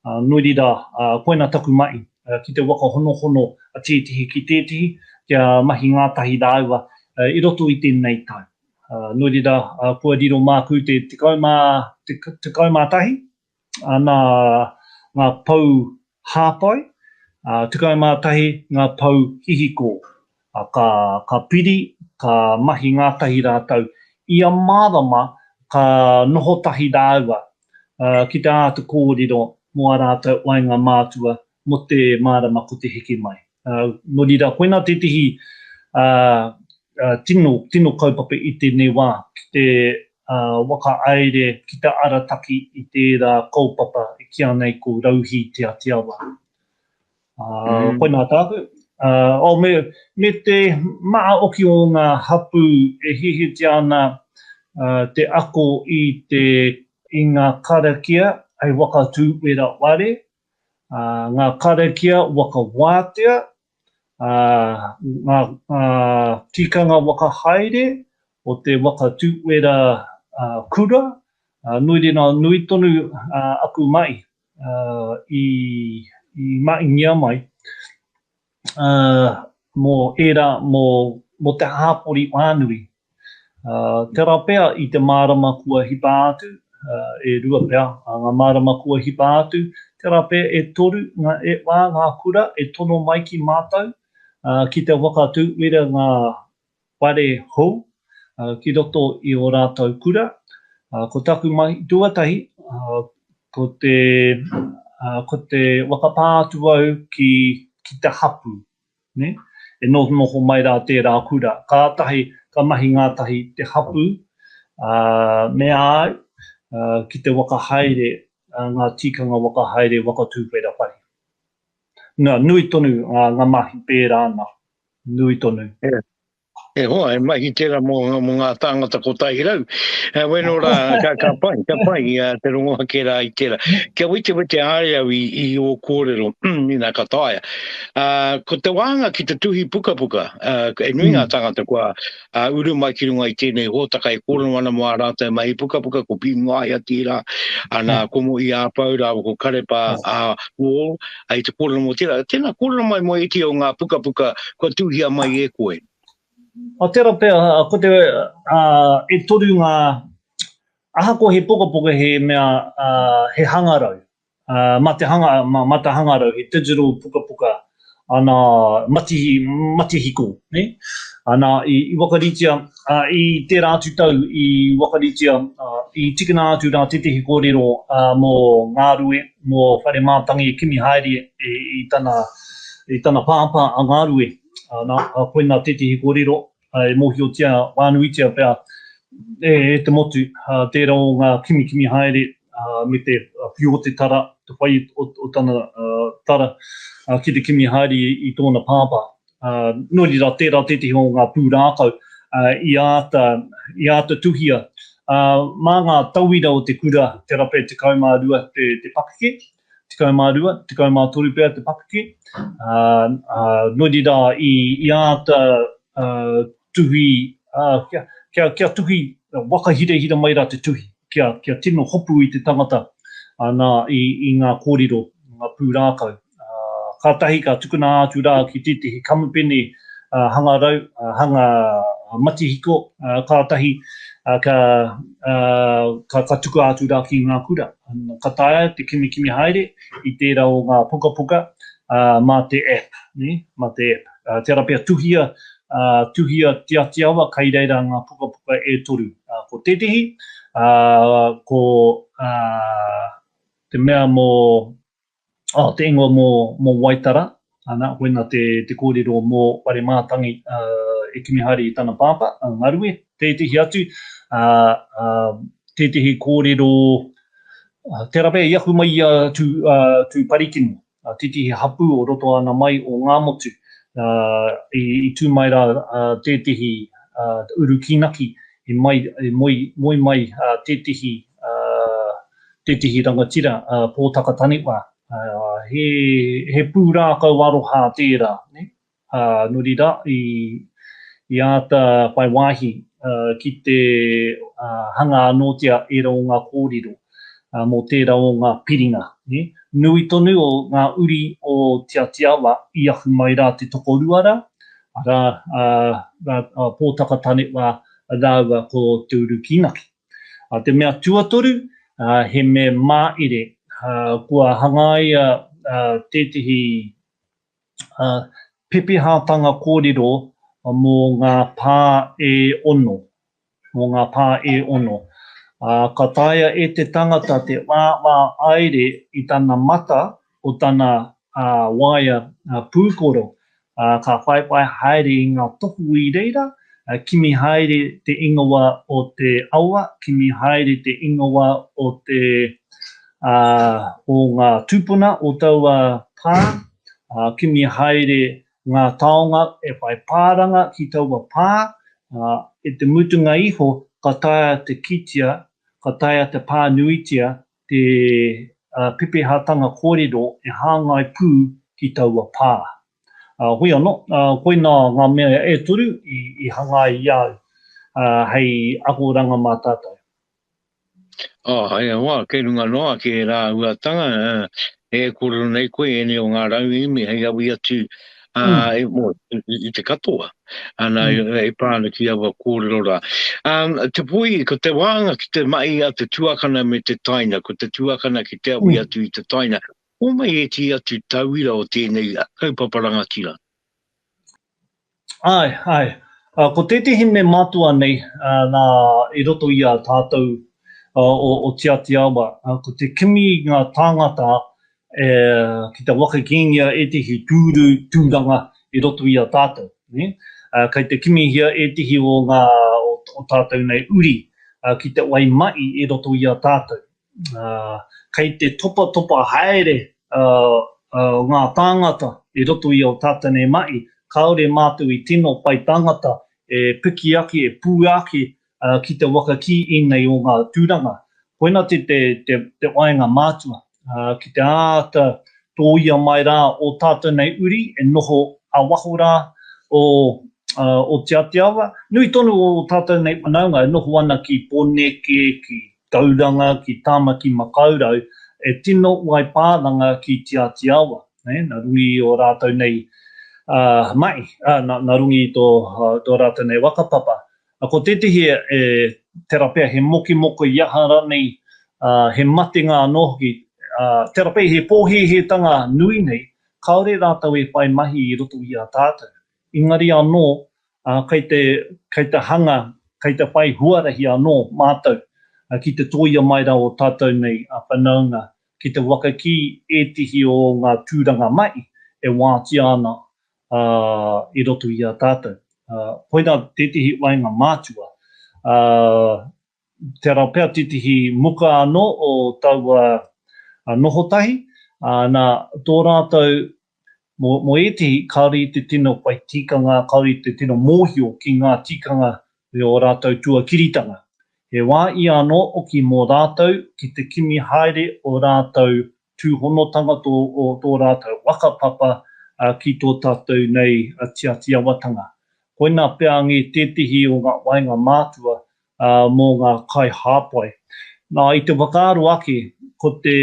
Ā, nō reira, ā, koina taku mahi, ā, ki te waka honohono a tētehi ki tētehi, kia mahi ngātahi rāua, ā, i roto i tēnei tau. Ā, nō reira, ā, kua riro māku te tekau mā, te, tekau mā tahi, ana ngā pou hāpai, 11 ngā pou hihiko. Ka piri, ka mahi ngātahi rātou. Ia marama ka noho tahi rāua ki te āta kōrero mō ā rātou waenga mātua mō te marama ko te heke mai. Ā, nō reira, koinā tētehi, ā, ā, tino, tino kaupapa i tēnei wā, ki te, ā, whakahaere, ki te arataki i tērā kaupapa e kīa nei ko Rauhī Te Atiawa. Ā, koinā tāku. Ā, oh, me, me te maha hoki o ngā hapū e hihitia ana, ā, te ako i te, i ngā karakia hei whakatū wera ware, ā, ngā karakia waka wātea, ā, ngā, ngā tikanga waka haere o te waka tūwera, ā, kura, ā, nui rina nui tonu, ā, aku mahi, ā, i, i mahingia mai. mō ērā, mō te hāpori whānui. Tērā pea i te mārama kua hipa atu, e rua pea ngā mārama kua hipa atu, tērā pea e toru, e whā ngā kura e tono mai ki mātou ki te whakatūwera ngā whare hou ki roto i ō rātou kura. Ko taku mahi tuatahi, ko te, ko te whakapā atu au ki, ki te hapū, nē, e nohonoho mai rā tērā kura. Kātahi ka mahi ngātahi te hapū, ā, mea ai ki te waka haere ngā tīkanga waka haere waka tūwhera whare. Na, nui tonu nga mahi pera ana. Nui tonu. E hoa, he mahi tera mo nga tangata kotahi rau. Bueno ra, ka pai, ka pai te rongo ake ra i tera. Kia wetewete are au i o korero, ina ka taea. Ko te wanga ki te tuhi pukapuka, e nui nga tangata kua ā, uru mai ki runga i tēnei hōtaka e kōrero ana mō ā rātou mahi pukapuka, ko Pīmu Ngaia tērā, ā, nā Komoī Āpau rāua ko Karepa ā, Wall, ā, i te kōrero mō tērā. Tēnā, kōrero mai mō ētehi o ngā pukapuka kua tuhia mai e koe. Ā, tērā pea, ko te, ā, e toru ngā, ahakoa he pokapoka he mea, ā, he hangarau, Mā te hanga, mā, mā te hangarau, he digital pukapuka, ana, matihi, matihiko, nē? Ana, i, i wakaritia, ā, i tērā atu tau i wakaritia, ā, i tikina atu rā tētehi kōrero, ā, mō Ngārue, mō Whare Mātangi kimi haere i, i tana, i tana pāpā a Ngārue, ana, ā, koina tētehi kōrero, e mōhiotia, whānuitia pea e te motu tērā o ngā kimikimi haere me te whiu o te tara, te whai o tana tara ki te kimi haere i tōna pāpā. Nō reira, tērā tētehi o ngā pūrākau i āta, i āta tuhia. Mā ngā tauira o te kura te rape 12 te pakeke, Tekau mā rua, tekau mā toru pea te pakeke, ā, nō reira i, i āta tuhi, ā, kia, kia, kia tuhi, wakahirahira mai rā te tuhi, kia, kia tino hopu i te tangata, ā, nā, i, i ngā kōrero, ngā pūrākau, ā, kātahi ka tukuna atu rā ki tētehi kamupene, ā, hangarau, ā, hanga matihiko, ā, kātahi, ā, ka. ā, ka tukua atu rā ki ngā kura. Ka taea te kimikimi haere i tērā o ngā pukapuka, ā, mā te app, nē, mā te app. Ā, tērā pea tuhia, ā, tuhia Te Atiawa kai reira ngā pukapuka e toru. Ā, ko tētehi, ā, ko, ā, te mea mō Oh, te ingoa mō, mō Waitara, ana, koina te, te kōrero mō Paremātangi, ā, e kimi haere i tana pāpā, a Ngarue, tētehi atu, ā, ā, tētehi kōrero, ā, tērā pea i aku mai i a Tū, ā, Tūparikino, ā, tētehi hapū o roto ana mai o Ngāmotu, ā, i, i tū mai rā, ā, tētehi, ā, Urukīnaki, i mai, i moe, moe mai, ā, tētehi, ā, Tētehi rangatira, a Pōtaka Taniwha, he pūrākau aroha tērā, nō reira i āta whai wāhi ki te hanga anōtia ērā o ngā kōrero mō tērā o ngā piringa. Nui tonu o ngā uri o Te Atiawa i ahu mai rā te tokorua rā, arā, a Pōtaka Taniwha rāua ko Te Urukīnaki. Te mea tuatoru, he me māire, kua hangaia tētehi pepehatanga kōrero mō ngā pā e ono, mō ngā pā e ono. Ka taea e te tangata te wāwā aere i tana mata o tana waea pūkoro, ka whaiwhai haere i ngā tohu i reira, kimi haere te ingoa o te awa, kimi haere te ingoa o te o ngā tūpuna o taua pā, kimi haere ngā taonga e whai pāranga ki taua pā, i te mutunga iho ka taea te kitea, ka taea te pānuitia te pepehātanga kōrero e hāngai pū ki taua pā. Hoi anō, koinā ngā mea e toru i hanga ai i a au hei akoranga mā tātou. Ahaia wā, kei runga noa ki ērā uatanga, E kōrero nei koe ēnei o ngā rauemi hei awi atu i te katoa, ana e pā ana ki aua kōrero rā. Te poi, ko te wānga ki te mahi a te tuakana me te taina, ko te tuakana ki te awi atu i te taina, homai ētehi atu tauira o tēnei kaupapa rangatira? Āe, āe. Ko tētehi hine matua nei nā i roto i a tātou o Te Āti Awa, ko te kimi i ngā tāngata ki te waka kīngia ētehi tūru tūranga i roto i a tātou. Kei te kimihia ētehi o ngā o tātou nei uri ki te wai mahi i roto i a tātou. Kei te topatopa haere ngā tāngata i roto i Ōtatene mahi, kāore mātou i tino whai tangata e piki ake, e pū ake ki te waka ki ēnei o ngā tūranga. Koina te waenga mātua, ki te āta tōia mai rā ō tātou nei uri e noho a waho rā o Otiateawa. Nui tonu o ō tātou nei whanaunga e noho ana ki Poneke, ki Tauranga ki Tāmaki Makaurau e tino waipāranga ki Te Āti Awa, nā runga i ō rātou nei mahi, nā runga i tō rātou nei whakapapa. Ko tētehi e tera pea he mokemoko i aha ranei, he matenga anō hoki, tera pea he pōhēhētanga nui nei, kāore rātou e whai mahi i roto i a tātou. Engari anō, kei te, kei te hanga, kei te whai huarahi anō mātou ki te tōia mai rā o tātou nei whanaunga, ki te waka ki ētehi o ngā tūranga mahi e wātea ana i roto i a tātou. Koirā tētehi o ngā mātua Tērā pea titihi muka anō o taua noho tahi, ā, nā, tō rātou, mō, mō ētehi, kāore i te tino whai tikanga, kāore i te tino mōhio ki ngā tikanga me ō rātou tuakiritanga. He wā ia anō hoki mō rātou ki te kimi haere ō rātou tūhonotanga tō tō rātou waka papa ki tō tātou nei tiatiawatanga. Koinā pea ngē tētehi o ngā waenga mātua mō ngā kaihāpai. Nā, i te whakaaro ake, ko te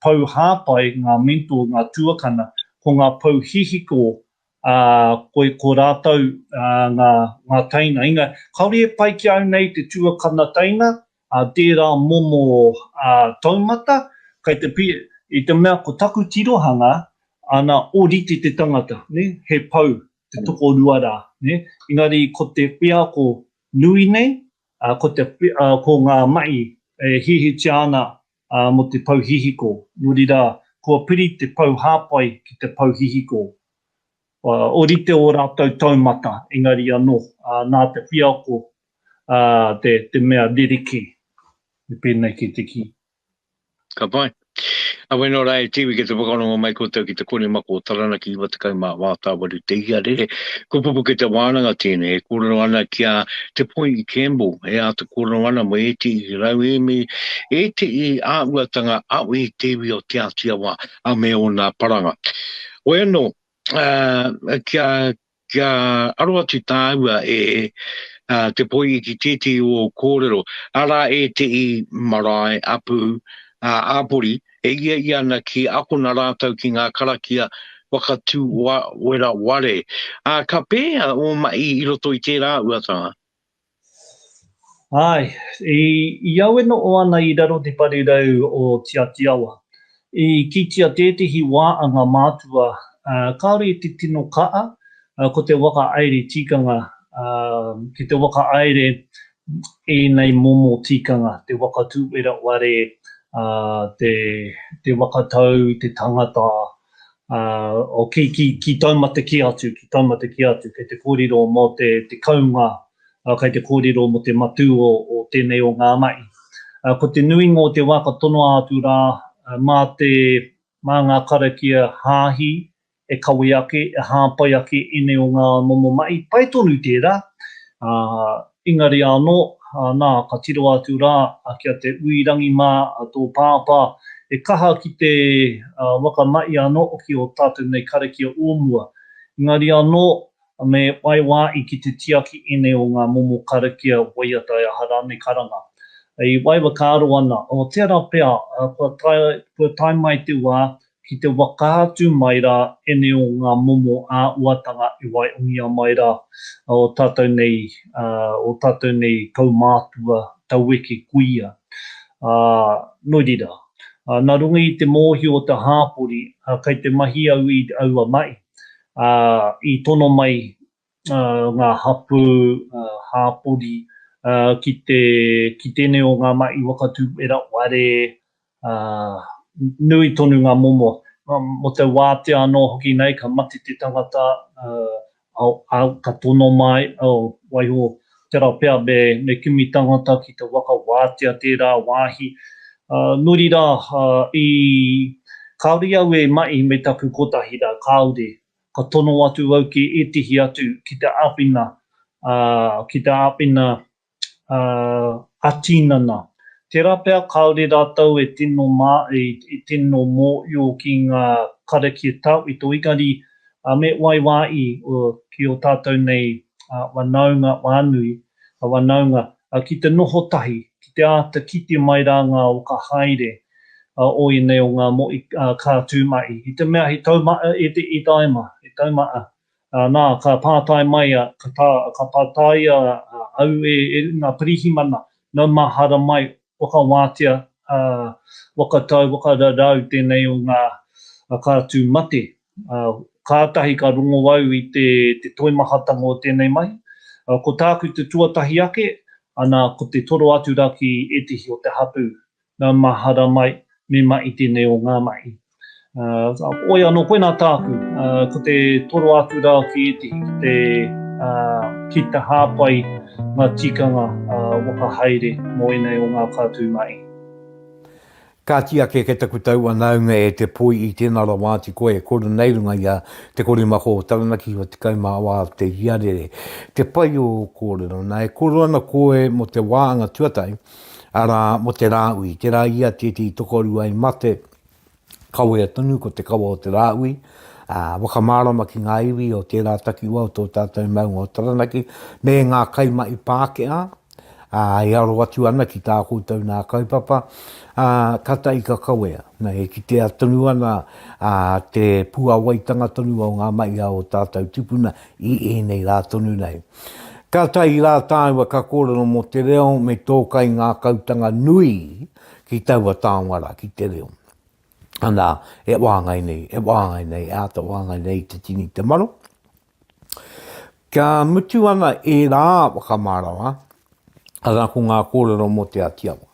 pou hāpai, ngā mentor, ngā tuakana, ko ngā pou hihiko, ā, ko, ko rātou ngā, ngā teina. Inga, kāore e pai ki au nei te tuakana teina, A tērā momo a taumata, kei te pi, i te mea ko taku tirohanga, ana orite te tangata, ne, he pou, te tokorua rā, ne, engari ko te wheako nui nei, a, ko te, a, ko ngā mahi e hihitia ana, a, mo te pou hihiko, nori rā, kua piri te pou hāpai ki te pou hihiko. A, orite o rātou taumata, engari anō, a, nā te wheako ā, te, te mea ririki, me pēnei kē te kī. Ka pai. A wai nō rā e Tiwi ki te whakarongo mai koutou ki te kore mako o Taranaki 98 Tāwari te ia rere. Ko Pupuke te wānanga tēnei e kōrero ana ki a Te Poi i Campbell e āta kōrero ana mō ētehi rauemi, ētehi āhuatanga a wē te iwi o Te Āti Awa a me ōna paranga. Hoi anō, ā, kia, Kia aro atu tāua e te poihi ki tētehi o ō kōrero, arā ētehi marae, apu, āpori e iaiia ana ki akona rātou ki ngā karakia waka tū wera ware, ā, ka pēhea ō mahi i roto i tērā uatanga? Ae, i au e noho ana i raro te parirau o Tiatiawa, i kitea tētehi wā a ngā mātua kāore i te tino kaha, ko te whakaaere tikanga ki te whakaaere ēnei momo tikanga, te whakatūwera ware, te whakatau i te tangata, o ki, ki, ki taumata ki atu, ki taumata ki atu, kei te kōrero mō te, te kounga, ā, kei te kōrero mō te matū o, o tēnei o ngā mahi. Ā, ko te nuinga o te wā ka tonoa atu rā, mā te, mā ngā karakia hāhi e kawe ake, e hāpai ake ēnei o ngā momo mahi, pai tonu tērā, ā, Engari anō, nā, ka tiroa atu rā ki a Te Uirangi mā tō pāpā, he kaha ki te waka mahi anō hoki o tātou nei karakia o mua. Engari anō, me whai wāhi ki te tiaki ēnei o ngā momo karakia waiata e aha rānei karanga. I waiwhakaaro ana, o tērā pea, kua tae mai te wā, Ki te whakaatu mai rā ēnei o ngā momo ā-uatanga e waihongia mai rā ō tātou nei, ō tātou nei kaumātua taueke kuia. Ā, nō reira, nā runga i te mōhio o te hāpori, kei te mahi au i aua mahi, ā, i tono mai ngā hapū hāpori ki tēnei o ngā mahi waka tūwera ware, nui tonu ngā momo. Mō te wātea anō hoki nei ka mate te tangata, ka tono mai, waiho tērā pea me kimi tangata ki te waka wātea tērā wāhi. Nō reira, kāore au e mahi me taku kotahi rā, kāore. Ka tono atu au ki ētehi atu ki te āwhina, ā, ki te āwhina, ā, ā-tīnana. Tērā pea kāore rātou e tino mā, e, e tino mōhio ki ngā karakia e tau i tō Ingari, ā, me waiwāi, ō, ki ō tātou nei, ā, whanaunga whānui, ā, whanaunga, a ki te noho tahi, ki te āta kite mai rā ngā oka haere a o ēnei o ngā moe, ā, ka tū mai. I te mea he taumata e te e taima, he taumata, ā, nā, ka pātai mai a, ka tā, ka pātai a, a, au e, e ngā pirihimana, nau mahara mai, whakawātea, ā, whakatau, whakararau tēnei o ngā, a, ka tū mate. Kātahi ka rongo au i te toimahatanga o tēnei mahi. Ko tāku te tuatahi ake, ana, ko te toro atu rā ki ētehi o te hapū, nā, mahara mai, me mahi tēnei o ngā mahi. Whoi anō, koinā tāku, ko te toro atu rā ki ētehi ki te, ki te hāpai ngā tikanga whakahaere mō ēnei o ngā kātū mahi. Kāti ake kei taku taua naunga e te poi i tēnā rawa atu koe e kore nei runga i a Te Korimako o Taranaki Hua Tekau mā wā o te iarere te pai o ō kōrero nā e koro ana koe mō te wā anga tuatahi arā mō te Rāui te rā i a tētehi tokorua i mate kawea tonu ko te kawa o te Rāui ā wakamārama ki ngā iwi o tērā takiwa o tō tātou maunga o Taranaki me ngā kaimahi Pākehā. ā, e aro atu ana ki tā koutou nā kaupapa, ā, tata i ka kawea. Nā, e kitea tonu ana te puāwaitanga tonu o ngā mahi a ō tātou tupuna i ēnei rā tonu nei. Kātahi rā tāua ka kōrero mō te reo me tō kaingākautanga nui ki taua taonga rā, ki te reo. Anā, e wāngai nei, e wāngai nei, e āta wāngai nei i te tini te maro. Kia mutu ana ērā whakamārawa, arā ko ngā kōrero mō Te Atiawa,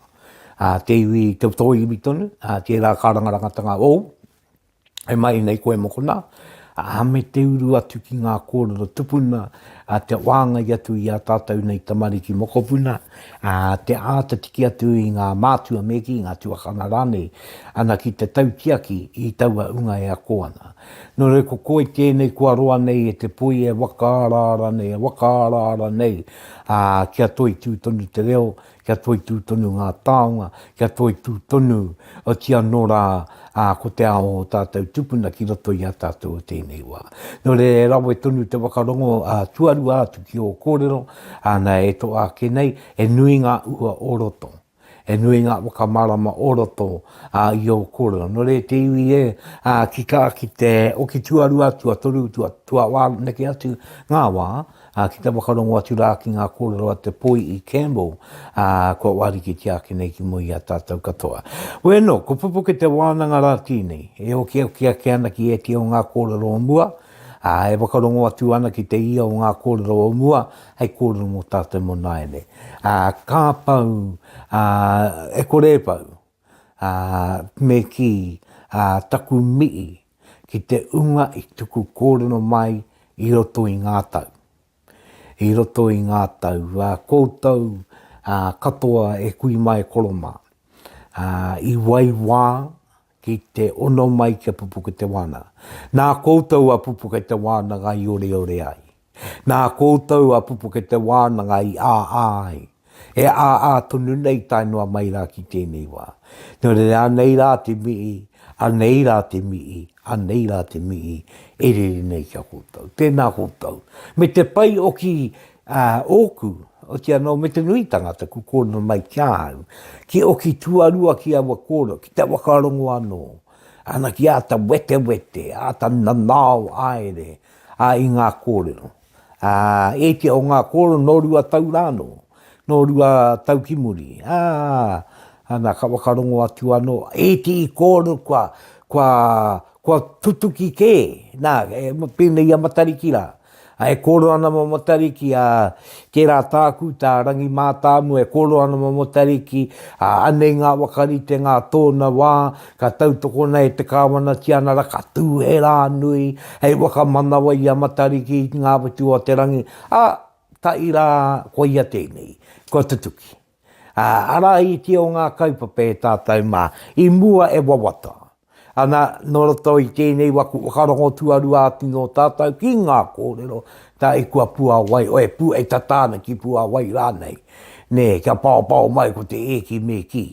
ā, te iwi te toi iwi tonu, ā, tērā kārangarangatanga ōu, e mahi nei koe mokona, ā, me te uru atu ki ngā kōrero tupuna, ā, te whāngai atu i a tātou nei tamariki mokopuna, ā, te āta tiki atu i ngā mātua me kī, ngā tuakana rānei, ana ki te tautiaki i taua ūnga e ako ana. Nō reira ko koe tēnei kua roa nei e te poi e whakaaraara nei, e whakaaraara nei, ā, kia toitū tonu te reo, kia toitū tonu ngā taonga, kia toitū tonu, otirā anō rā, ā, ko te ao o tātou tupuna ki roto i a tātou o tēnei wā. Nō reira e rawe tonu te whakarongo tuarua atu ki ō kōrero, āna e toa ake nei, he nui ngā ua o roto. He nui ngā whakamārama o roto i ō kōrero. Nō reira te iwi e tika ki te oki tuarua, tuatoru, tuawhā neke atu ngā wā ki te whakarongo atu rā ki ngā kōrero a te Poiī Campbell kua wārikitia ake nei ki mua i a tātou katoa. Wēnō, ko Pupuke te wānanga rā tēnei e okioki ake ana ki ētehi o ngā kōrero o mua, Ā, e whakarongo atu ana ki te ia o ngā kōrero o mua, hei kōrero mō tātou mō nāianei. Ā, ka pau, ā, e kore e pau, ā, me kī, ā, taku mihi ki te ūnga i tuku kōrero mai i roto i ngā tau. I roto i ngā tau, ā, koutou, ā, katoa e kui mai e koro mā, ā, i wai wā, Ki te ono mai ki a Pupuketewānanga. Nā koutou a Pupuketewānanga i oreore ai. Nā koutou a Pupuketewānanga i āā ai. E āā tonu nei tae noa mai rā ki tēnei wā. Nō reira anei rā te mihi, anei rā te mihi, anei rā te mihi e rere nei ki a koutou. Tēnā koutou. Me te pai o ki Ā, ōku, oti anō me te nui tangata ku kōno mai ki ahau, ki oki tuarua ki aua kōno, ki te whakarongo anō, ana ki āta wetewete, āta nanao aere, ā, i ngā kōrero. Ā, ētia o ngā kōrero nō rua tau rānō, nō rua tau ki muri, ā, ana ka whakarongo atu anō, ētii kōrero kua, kua, kua tutuki kē, nā, pēnei i a Matariki rā, A e kōrero ana ma Matariki, a, tērā tāku, tā Rangi Mātāmua, e kōrero ana ma Matariki, a, anei ngā wakaritenga a tōna wā, ka tautokona e te Kāwana Tianara, ka tū he rā nui, hei wakamanawa i a Matariki, i Ngāwhatu-o-te-rangi, a, ka ira, koia tēnei. Kua tutuki. Ā, arā i te o ngā kaupapa e tātou mā, i mua e wawata. Ana, nō roto i tēnei waku whakarongo tuarua atu nō tātou ki ngā kōrero, tā i kua puāwai, e pu, e tata ana ki puāwai rānei, nē, kia paopao mai ko te e ki me ki.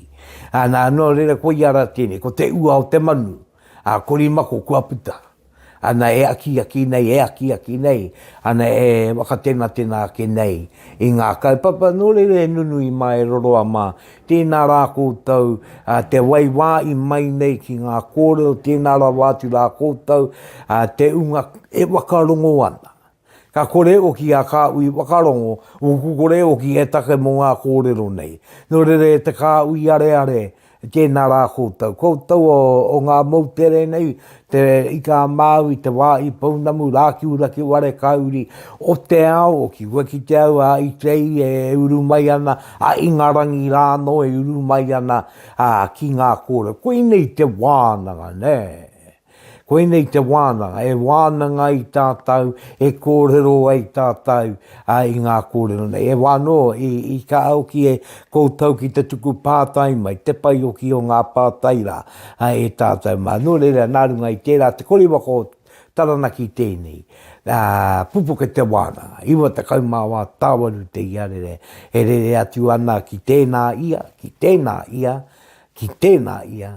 Ana, nō reira koia rā tēnei, ko te ua o te manu, ā, korimako kua puta. Ana e akiaki nei, e akiaki nei, ana e whakatenatena ake nei i ngā kaupapa nōreira e nunui mā, e roroa mā. Tēnā rā koutou, te waiwā i mai nei ki ngā kōrero, tēnā rawa atu rā koutou, te unga e whakarongo ana. Ka kore e oki a Kāhui Whakarongo ōku kore e oki e take mō ngā kōrero nei. Nō reira e te Kāhui Areare, tēnā rā koutou. Koutou o ngā moutere nei, te ika a Māui, te wā i pounamu, rākiura ki ware kauri o te ao oki. Kua kite au a Itei e uru mai ana, a Ingarangi rā anō e uru mai ana ki ngā kōrero. Koinei te wānanga, nē. Koinei te wānanga, e wānanga ai tātou, e kōrero ai tātou i ngā kōrero nei. E wā anō, i kā hoki e koutou ki te tuku pātai mai, te pai hoki o ngā pātai rā e tātou mā. Nō reira, nā runga i tērā, te kori waka o Taranaki tēnei, pupuke te wānanga, 94 tāwaru te iarere, e rere atu ana ki tēnā ia, ki tēnā ia, ki tēnā ia,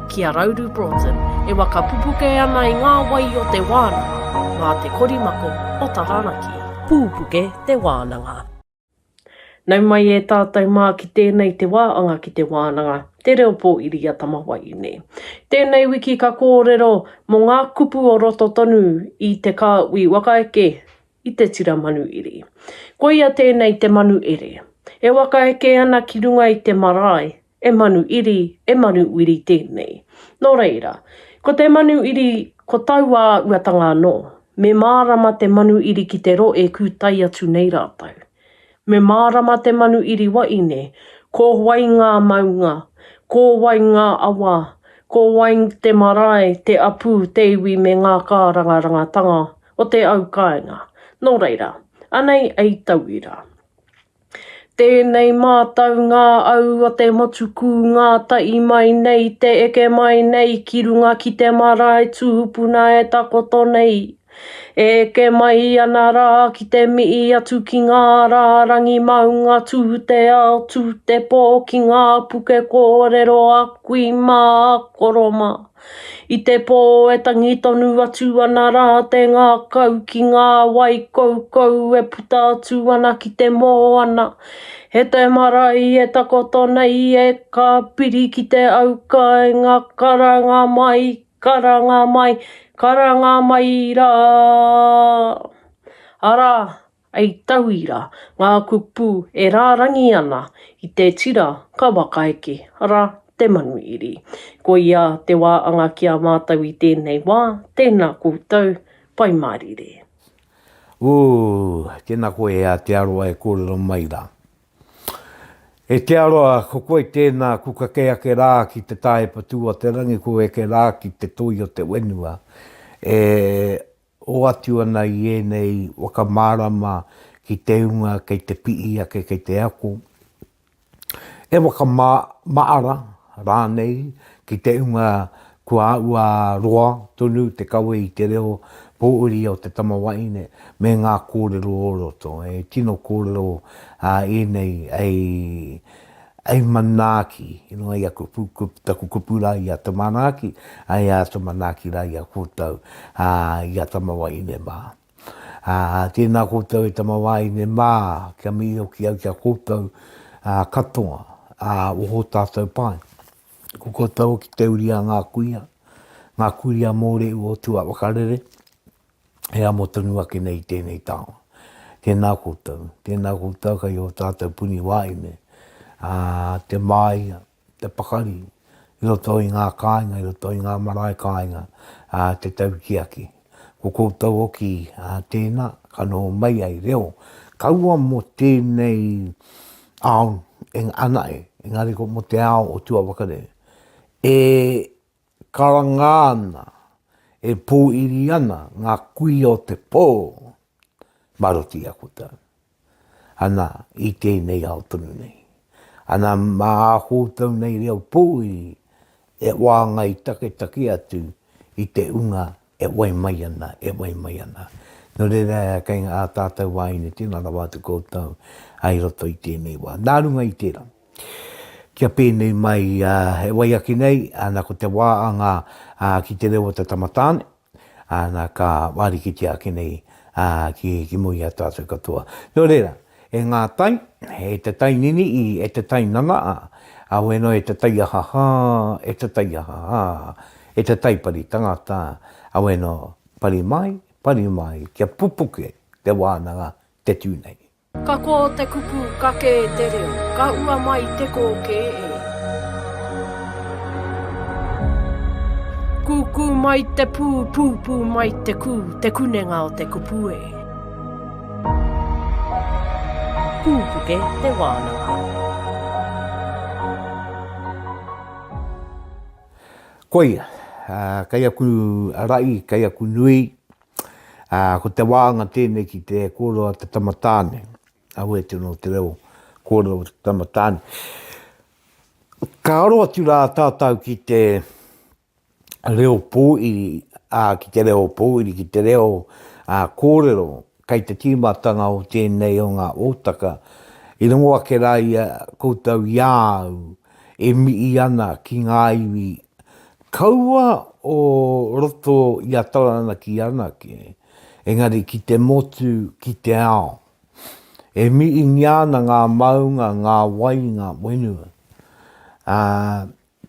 ki a Rauru Broughton e waka pupuke ana i ngā wai o te wānanga mā te korimako o Taranaki. Pūpuke te wānanga. Nau mai e tātou mā ki tēnei te wā anga ki te wānanga, te reo pōiri a Tamawaiine. Tēnei wiki ka kōrero mō ngā kupu o roto tonu i Te Kāhui Wakaeke i Te Tira Manuiri. Koia tēnei te Manuere, e wakaeke ana ki runga i te marae E manu iri, e manu wiri tēnei. Nō reira, ko te manu iri, ko taua uatanga anō. Me mārama te manu iri ki te ro e kūtai atu nei rātou. Me mārama te manu iri waine, ko wai ngā maunga, ko wai ngā awa, ko wai te marae, te apu, te iwi me ngā kārangarangatanga o te au kāinga. Nō reira, anei ei tauira. Tēnei mātaunga au o te motu kūngā tahi mai nei te eke mai nei ki runga ki te marae tūpuna e takoto nei. E eke mai ana rā ki te mihi atu ki ngā rārangi maunga tū te ao tū te pō ki ngā puke kōrero a kui mā a koro mā. I te pō e tangi tonu atu ana rā te ngākau ki ngā wai koukou e puta atu ana ki te moana. He te marae e takoto nei e ka piri ki te auka i ngā karanga mai, karanga mai, karanga mai rā. Arā, Hei tauira, ngā kupu e rārangi ana i te tira ka waka eke, arā, te manuiri. Koia te wā anga ki a mātou i tēnei wā, tēnā koutou, Pai Mārire. Ooh, tena koe e Aotearoa e korero mai ra. E te Aroa, ko koe tena ku kake ake ra ki te tahepa tu o te rangi ku eke ra ki te toi o te wenua. E Hoatu ana i ēnei waka mārama ki te hunga kei te pihi ake, kei te ako, he waka maara rānei ki te hunga kua āhua roa tonu te kawe i te reo pōuri o te tama wahine me ngā kōrero o roto. He tino kōrero ēnei hei. Hei manaaki, i runga i aku taku kupu rā i a Te Manaaki, hei a Te Manaaki rā i a koutou, ā, i a Tamawahine mā. Ā, tēnā koutou e Tamawahine mā, kia mihi hoki au ki a koutou, ā, katoa, ā, oho tātou pae. Ko koutou hoki te uri a ngā kuia, ngā kuia mōrehu o Tūāwakarere, he amo tonu ake nei i tēnei taonga. Tēnā koutou, tēnā koutou kei ō tātou puni wāhine, ā, te māia, te pakari, i roto i ngā kāinga, i roto i ngā marae kāinga, ā, te tautiaki. Ko koutou hoki, ā, tēnā, ka noho mai ai reo, kaua mō tēnei ao, engari ko mō te ao o Tuawakare, e Karanga ana, e pōiri ana ngā kuia o te pō, marotia aku tau. Ana, i tēnei ao tonu nei. Ana, mā ā koutou nei reo pōiri e wāngai taketake atu i te unga E wai mai ana, e wai mai ana. Nō reira, e kei ngā tātou wāhine tēnā rawa atu koutou i roto i tēnei wā. Nā runga i tērā, kia pēnei mai, e wai ake nei, nā ko te wā a ngā, ki te reo o te tama tāne, nā ka wārikitia ake nei ki, ki mua i a tātou katoa. Nō reira, E ngā tai, e te tai niniʻi, e te tai nanaʻa, a weno e te tai ahahā, e te tai ahahā, e te tai pari tangata, a weno, pari mai, pari mai, kia pupuke te wānanga te tū nei. Ka kō te kupu ka kē te reo, ka ua mai te kō kē e. Kūkū mai te pū, pūpū mai te kū, te kunenga o te kupu e. Pūpuke te wānanga. Koia, kei aku ra'i, kei aku nui, ko te wānanga tēnei ki te kōrero a te tama tāne, ahua e tino te reo kōrero te tama tāne. Ka aro atu rā tātau ki te reo pōiri, ā, ki te reo pōiri, ki te reo kōrero, kei te tīmatanga o tēnei o ngā ōtaka, i rongo ake rā i a koutou i a au e mihi ana ki ngā iwi kaua o roto i a Taranaki anake, engari ki te motu, ki te ao. E mihingia ana ngā maunga, ngā wai, ngā whenua. Ā,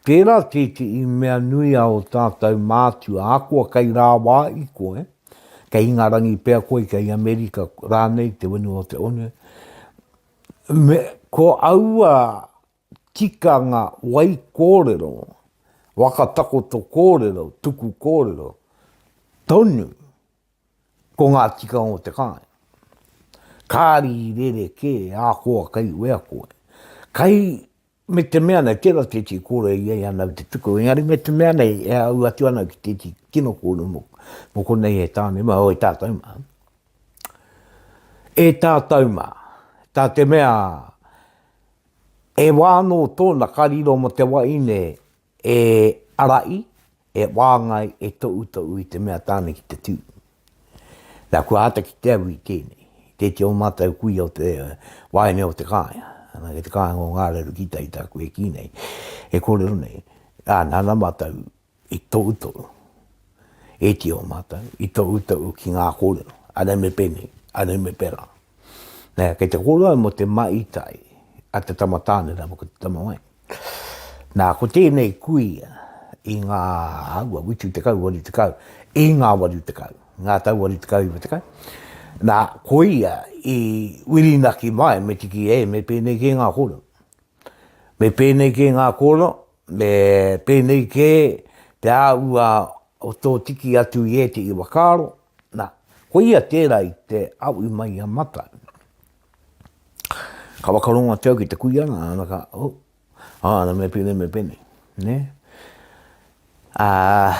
Tērā tētehi mea nui a o tātou mātua, ahakoa kei rāwā i koe, kei Ingarangi pea koe, kei Amerika rānei, te whenua o te one, me, ko aua tikanga wai kōrero, waka takoto kōrero, tuku kōrero, tonu, ko ngā tikanga o te kāinga. Kāri i rerekē, ahakoa kei wea koe. Kei Me te mea nei, tērā tētahi kōrero i a ia nāu te tuku, engari me te mea nei, e āu atu ana ki tētahi tino kōrero mō, mō konei e tāne mā, o e tātou mā. E tātou mā, tā te mea, e wā anō tōna ka riro mō te waeine, E arai, e wāngai, e toʻutoʻu i te mea tāne ki te tū. Na, kua ata ki te aru i tēnei, tēti o mātou kuia o te waeine o Te Kāinga, ana, kei te kāinga o Ngā Reru ki tai tāku e kī nei, e kōrero nei, ā, nāna mātou i toʻutoʻu, ēti o mātou, i toʻutoʻu ki ngā kōrero, a nei me pēnei, a nei me pērā. Nē, kei te kōrero au mō te maitai a te tama tāne rāua ko te tama waeine. Nā, ko tēnei kui i ngā aua whitu tekau, waru tekau, i ngā waru tekau, ngā tau waru tekau, iwa tekau. Nā, ko ia i wirinaki mai me tiki e, me pēnei kē ngā kōrero. Me pēnei kē ngā kōrero, me pēnei kē te āhua o tō tiki atu i ētehi whakaaro, nā, ko ia tērā i te awi mai a Matai. Ka whakarongo atu au ki te kuia nga, ana ka, oh, ah, ana me pene, me pene, ne? Ah,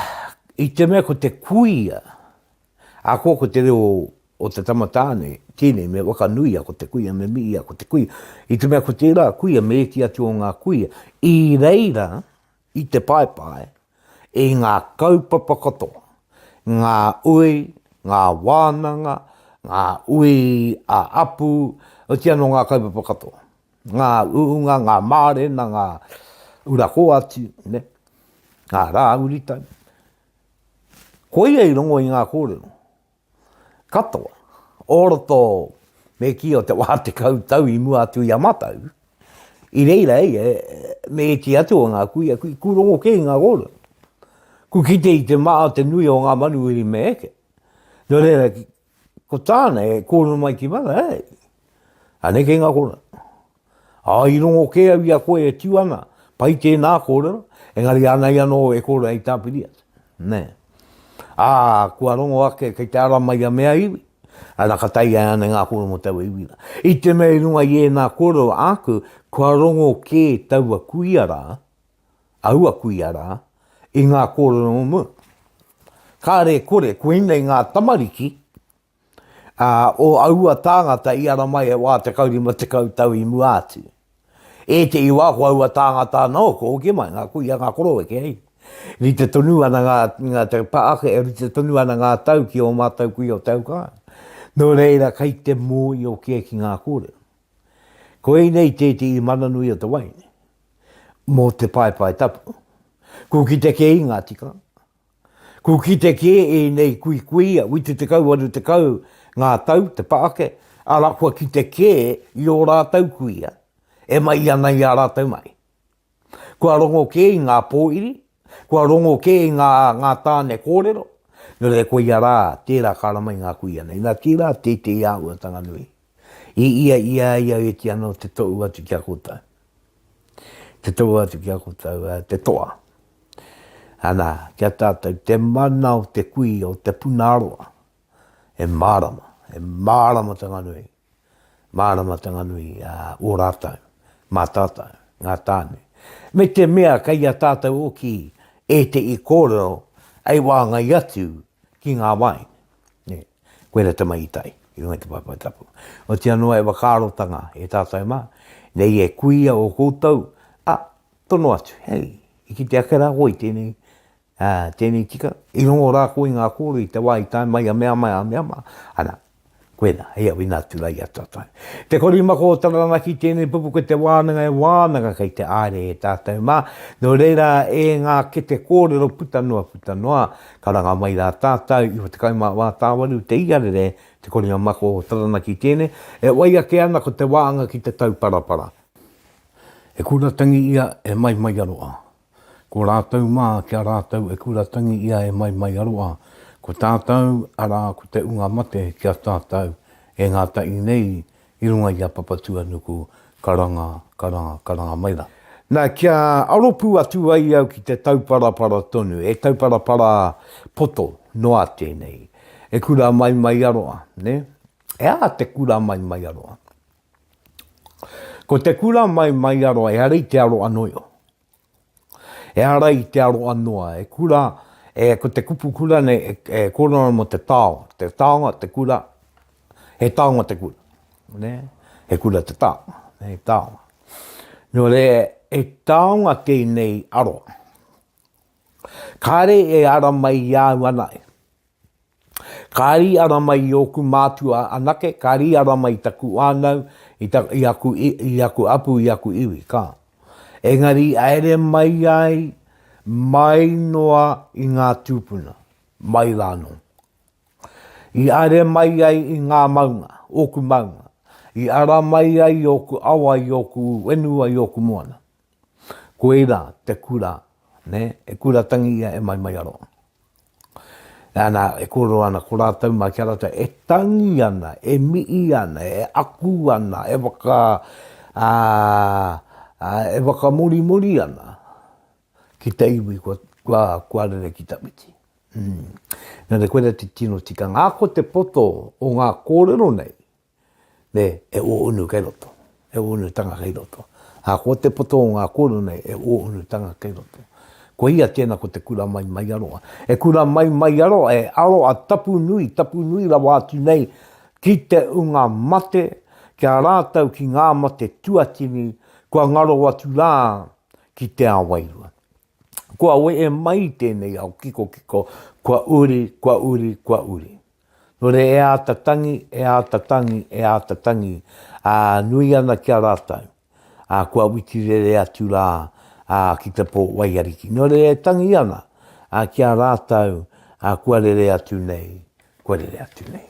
i te mea ko te kuia, a ko ko te reo o te tamatāne, tēnei me wakanuia ko te kuia, me miia ko te kuia. I te mea ko tērā kuia, me eki atu o ngā kuia, i reira, i te paepae, i ngā kaupapa katoa, ngā ui, ngā wānanga, ngā ui ā-apu, oti anō ngā kaupapa katoa, ngā uunga, ngā mārena, ngā ura kōati, ngā rā uritau. Koia i rongo i ngā kōrero. katoa o roto me kī o te wā tekau tau i mua atu i a mātou, i reira ia me ētahi atu o ngā kuia, kui, kū rongo kē i ngā rōrua. Kū kite i te mā o te nui o ngā manuhiri me eke. Nō reira, ko tāna e kōrero mai ki mana, hei, anei kei ngā kōrero. Ā, i rongo kē au i a koe e tū ana, pai tēnā kōrero, engari ānei anō e kore ai tāpiri atu. Nē. Ā, kua rongo ake kei te ara mai a mea iwi, ana ka tae ai ānei ngā kōrero mō taua iwi rā. I te mea i runga i ēnā kōrero āku, kua rongo kē taua kuia rā, aua kuia rā, i ngā kōrero o mua. Kāre e kore, koinei ngā tamariki, ā, o aua tāngata i ara mai e wā tekau rima tekau tau i mua atu. Ētehi wā ko aua tāngata anō kua hoki mai, ngā kuia, ngā koroweke, hei. Rite tonu ana ngā, ngā te pā ake, e rite tonu ana ngā tau ki ō mātou kuia o Te Aukāi. Nō reira kei te mōio kē ki ngā kōrero. Koinei tētehi mana nui o te wai nei, mō te paepae tapu. Kua kite kē i ngā tikanga. Kua kite kē ēnei kuikuia, whitu tekau, waru tekau ngā tau te pa ake, arā, kua kite kē i ō rātou kuia e mai ana i a rātou mahi. Kua rongo kē i ngā pōiri, kua rongo kē i ngā, ngā tāne kōrero, nō reira koia rā, tērā ka rama i ngā kuia nei. Nā, tērā tētehi āhuatanga nui. I ia i a ia iti ano te tou atu ki a koutou, te tou atu ki a koutou, a te toa. Ana, ki a tatou, te mana o te kui o te puna roa, e marama, e marama tanga nui, marama tanga nui a o ratou, ma tatou, nga tane. Me te mea kei a tatou oki etei korero ei wangai atu ki nga wai. Nē. Koina te maitai i runga i te paepae tapu. Otia noa e wakaarotanga e tatou ma, nei e kuia o koutou, a, tono atu, hei, i kite ake ra koe i tenei, a, tenei tika, i rongo ra koe i nga koro i te wa i tae mai a mea mai a mea ma, ana, koina, hei awina atu ra i a tatou. Te korima kotara ana ki tenei pupu ko te wananga e wananga kei te aare e tatou ma, no reira e nga kete korero puta noa puta noa, Karanga mai rā tātau i wha tekau mā wā tāwaru te iarere te koringa mako o Taranaki tēne e wai ake ana ko te wāanga ki te tauparapara. E kura tangi ia e mai mai aroa. Ko rātau mā ki a rātau e kura tangi ia e mai mai aroa, ko tātau arā ko te unga mate ki a tātau e ngātahi nei I runga i a Papatūānuku, karanga, karanga, karanga mai rā. Na, kia aro pū atu ai au ki te tauparapara tonu, he tauparapara poto noa tēnei, he kura Maimaiaroa, nē? He aha te kura Maimaiaroa? Ko te kura Maimaiaroa, ehara i te aro anō i. Ehara i te aroa noa, e kura, e, ko te kupu kura nei, e, e kōrero ana mō te taonga. Te taonga, te kura, he taonga te kura. Ne? He kura te taonga, he taonga. Nō re, he taonga tēnei aroa. Kāre e ara mai i āu ana e. Ka rīara mai i ōku mātua anake, ka rīara mai i taku whānau, i, ta, i, aku, i, i aku apu, i aku iwi, ka. Engari i aere mai ai, mai noa i ngā tūpuna, mai rānō. I aere mai ai i ngā maunga, ōku maunga, i ara mai ai i ōku awa, i ōku wenua, i ōku moana. Koira te kura, ne, e kura tangi ia e Maimaiaroa. Ana, e kōrero ana ko rātou mai kia rātou e tangi ana, e mii ana, e aku ana, e waka, ā, ā, e wakamorimori ana ki te iwi kua, kua, kua rere ki tawhiti. Mm. Nō reira koira te tino tikanga. Ā, ko te poto o ngā kōrero nei, Nē, e ōunu kei roto, e ōunutanga kei roto. Ā, ko te poto o ngā kōrero nei, e ōunutanga kei roto. Ko ia tēnā ko te kura mai mai aroa. E kura mai mai aroa, e aroa tapu nui, tapu nui rawa atu nei ki te unga mate, ki a rātou, ki ngā mate tuatini, kua ngaro atu rā ki te ā wairua. Kua wee mai i tēnei ao kikokiko, kua uri, kua uri, kua uri. Nō reira e āta tangi, e āta tangi, e āta tangi, ā, nui ana ki a rātou, ā, kua witi rere atu rā, ā, ki te pō waiariki. Nō reira e tangi ana, ā, ki a rātou, ā, kua rere atu nei, kua rere atu nei.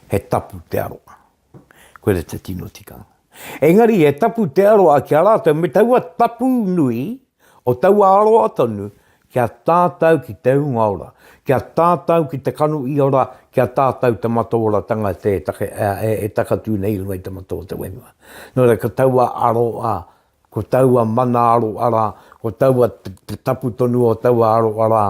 He tapu te aroha. Koira te tino tikanga. Engari he tapu te aroha ki a rātou me taua tapu nui o taua aroha tonu ki a tātou ki te hunga ora, ki a tātou ki te kanu i ora, ki a tātou te mataoratanga e takatū nei i runga i te matau o te whenua. Nō reira, ko taua aroha Ko taua mana aro ara, ko taua te tapu tonu o taua aro ara,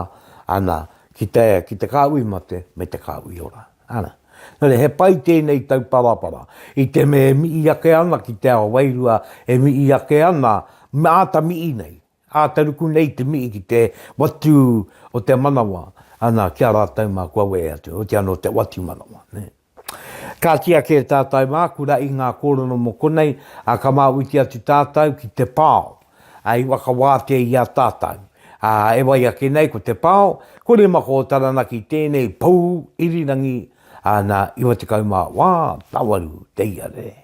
ana, ki te, ki te kāhui mate, me te kāhui ora. Ana. Nō reira, he pai tēnei tauparapara. I te mea e mihi ake ana ki te ao wairua, e mihi ake ana, me āta mihi nei, āta ruku nei te mihi ki te watu o te manawa, ana, ki a rātou mā kua wehe atu, otiano te watu manawa, nē. Ka tiaki e tātou mā kura i ngā kōrero mō konei, ā, ka māuiti atu tātou ki te pao, ā, i whakawātea i a tātou. Ā, e wai ake nei ko te pao, ko Remako o Taranaki tēnei pou irirangi, ā, nā, 98 te ia rere.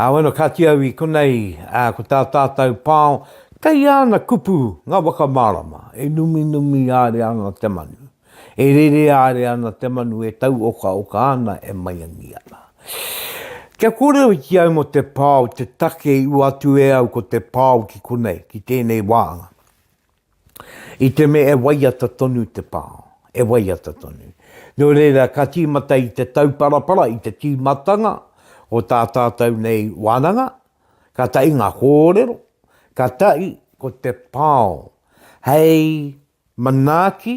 Ā, wano kāti au i konei, ā, ko tā tātou pao, kei āna kupu ngā waka mārama, e numinumi āre ana te manu, e rere āre ana te manu e tauokaoka ana e maiangi ana. Kia kōrero ki au mō te pao te take i ua atu e au ko te pao ki konei, ki tēnei wāanga. I te mea e waiata tonu te pā, e waiata tonu. Nō reira, ka tīmata i te tauparapara, i te tīmatanga o tā tātou nei wānanga, ka taʻi ngā kōrero, ka taʻi ko te pao hei manaaki,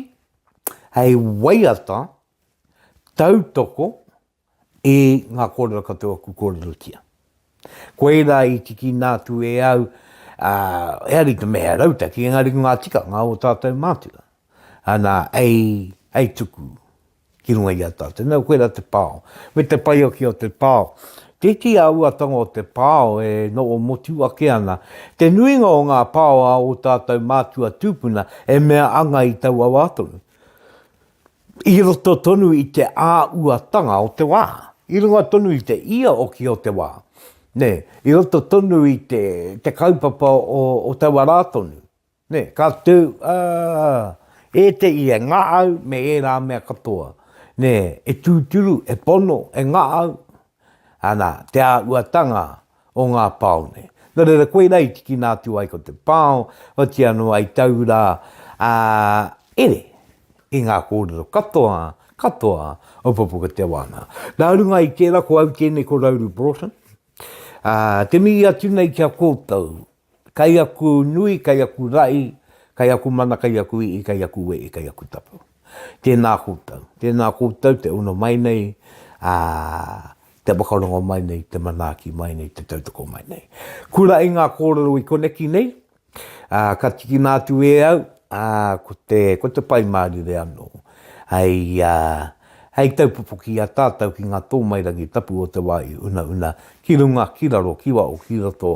hei waiata, tautoko, I ngā kōrero katoa ku kōrerotia. Koirā i tikina atu e au, eari te mea he rautaki, engari ko ngā tikanga o tātou mātua, ana, ei tuku ki runga i a tātou. Nō koirā te pao. Me te paiokia o te pao. Tēti āuatanga o te pao e noho motu ake ana. Te nuinga o ngā pao a o tātou mātua tūpuna e mea anga i taua wā tonu. i roto tonu i te āuatanga o te wā, i runga tonu i te ia hoki o te wā, nē, i roto tonu i te, te kaupapa o, o taua rā tonu. Nē, ka tū, ā, e te ia, e ngā au me ērā mea katoa, nē, e tūturu, e pono, e ngā au, Ana, te āhuatanga o ngā pao nei. Nō reira, koirā i tikina atu ai ko te pao, otīa noa i tau rā, ā, ere i ngā kōrero katoa, katoa o Pupuka Te Wānanga. Nā runga i tērā, ko au tēnei ko Rauru Broughton, ā, te mihi atu nei ki a koutou, Kai aku nui, kai aku rahi, kai aku mana, kai aku i'i, kai aku we'i, kai aku tapu. Tēnā koutou. Tēnā koutou te ono mai nei, ā, te whakarongo mai nei, te manaaki mai nei, te tautoko mai nei. Kura i ngā kōrero i koneki nei, ā, ka tikina atu e au, ā, ko te, ko te Pai Mārire anō. Hei, ā, hei taupopoki i a tātou ki ngā tōmairangi tapu o te wā i unauna ki runga, ki raro, ki waho, ki roto,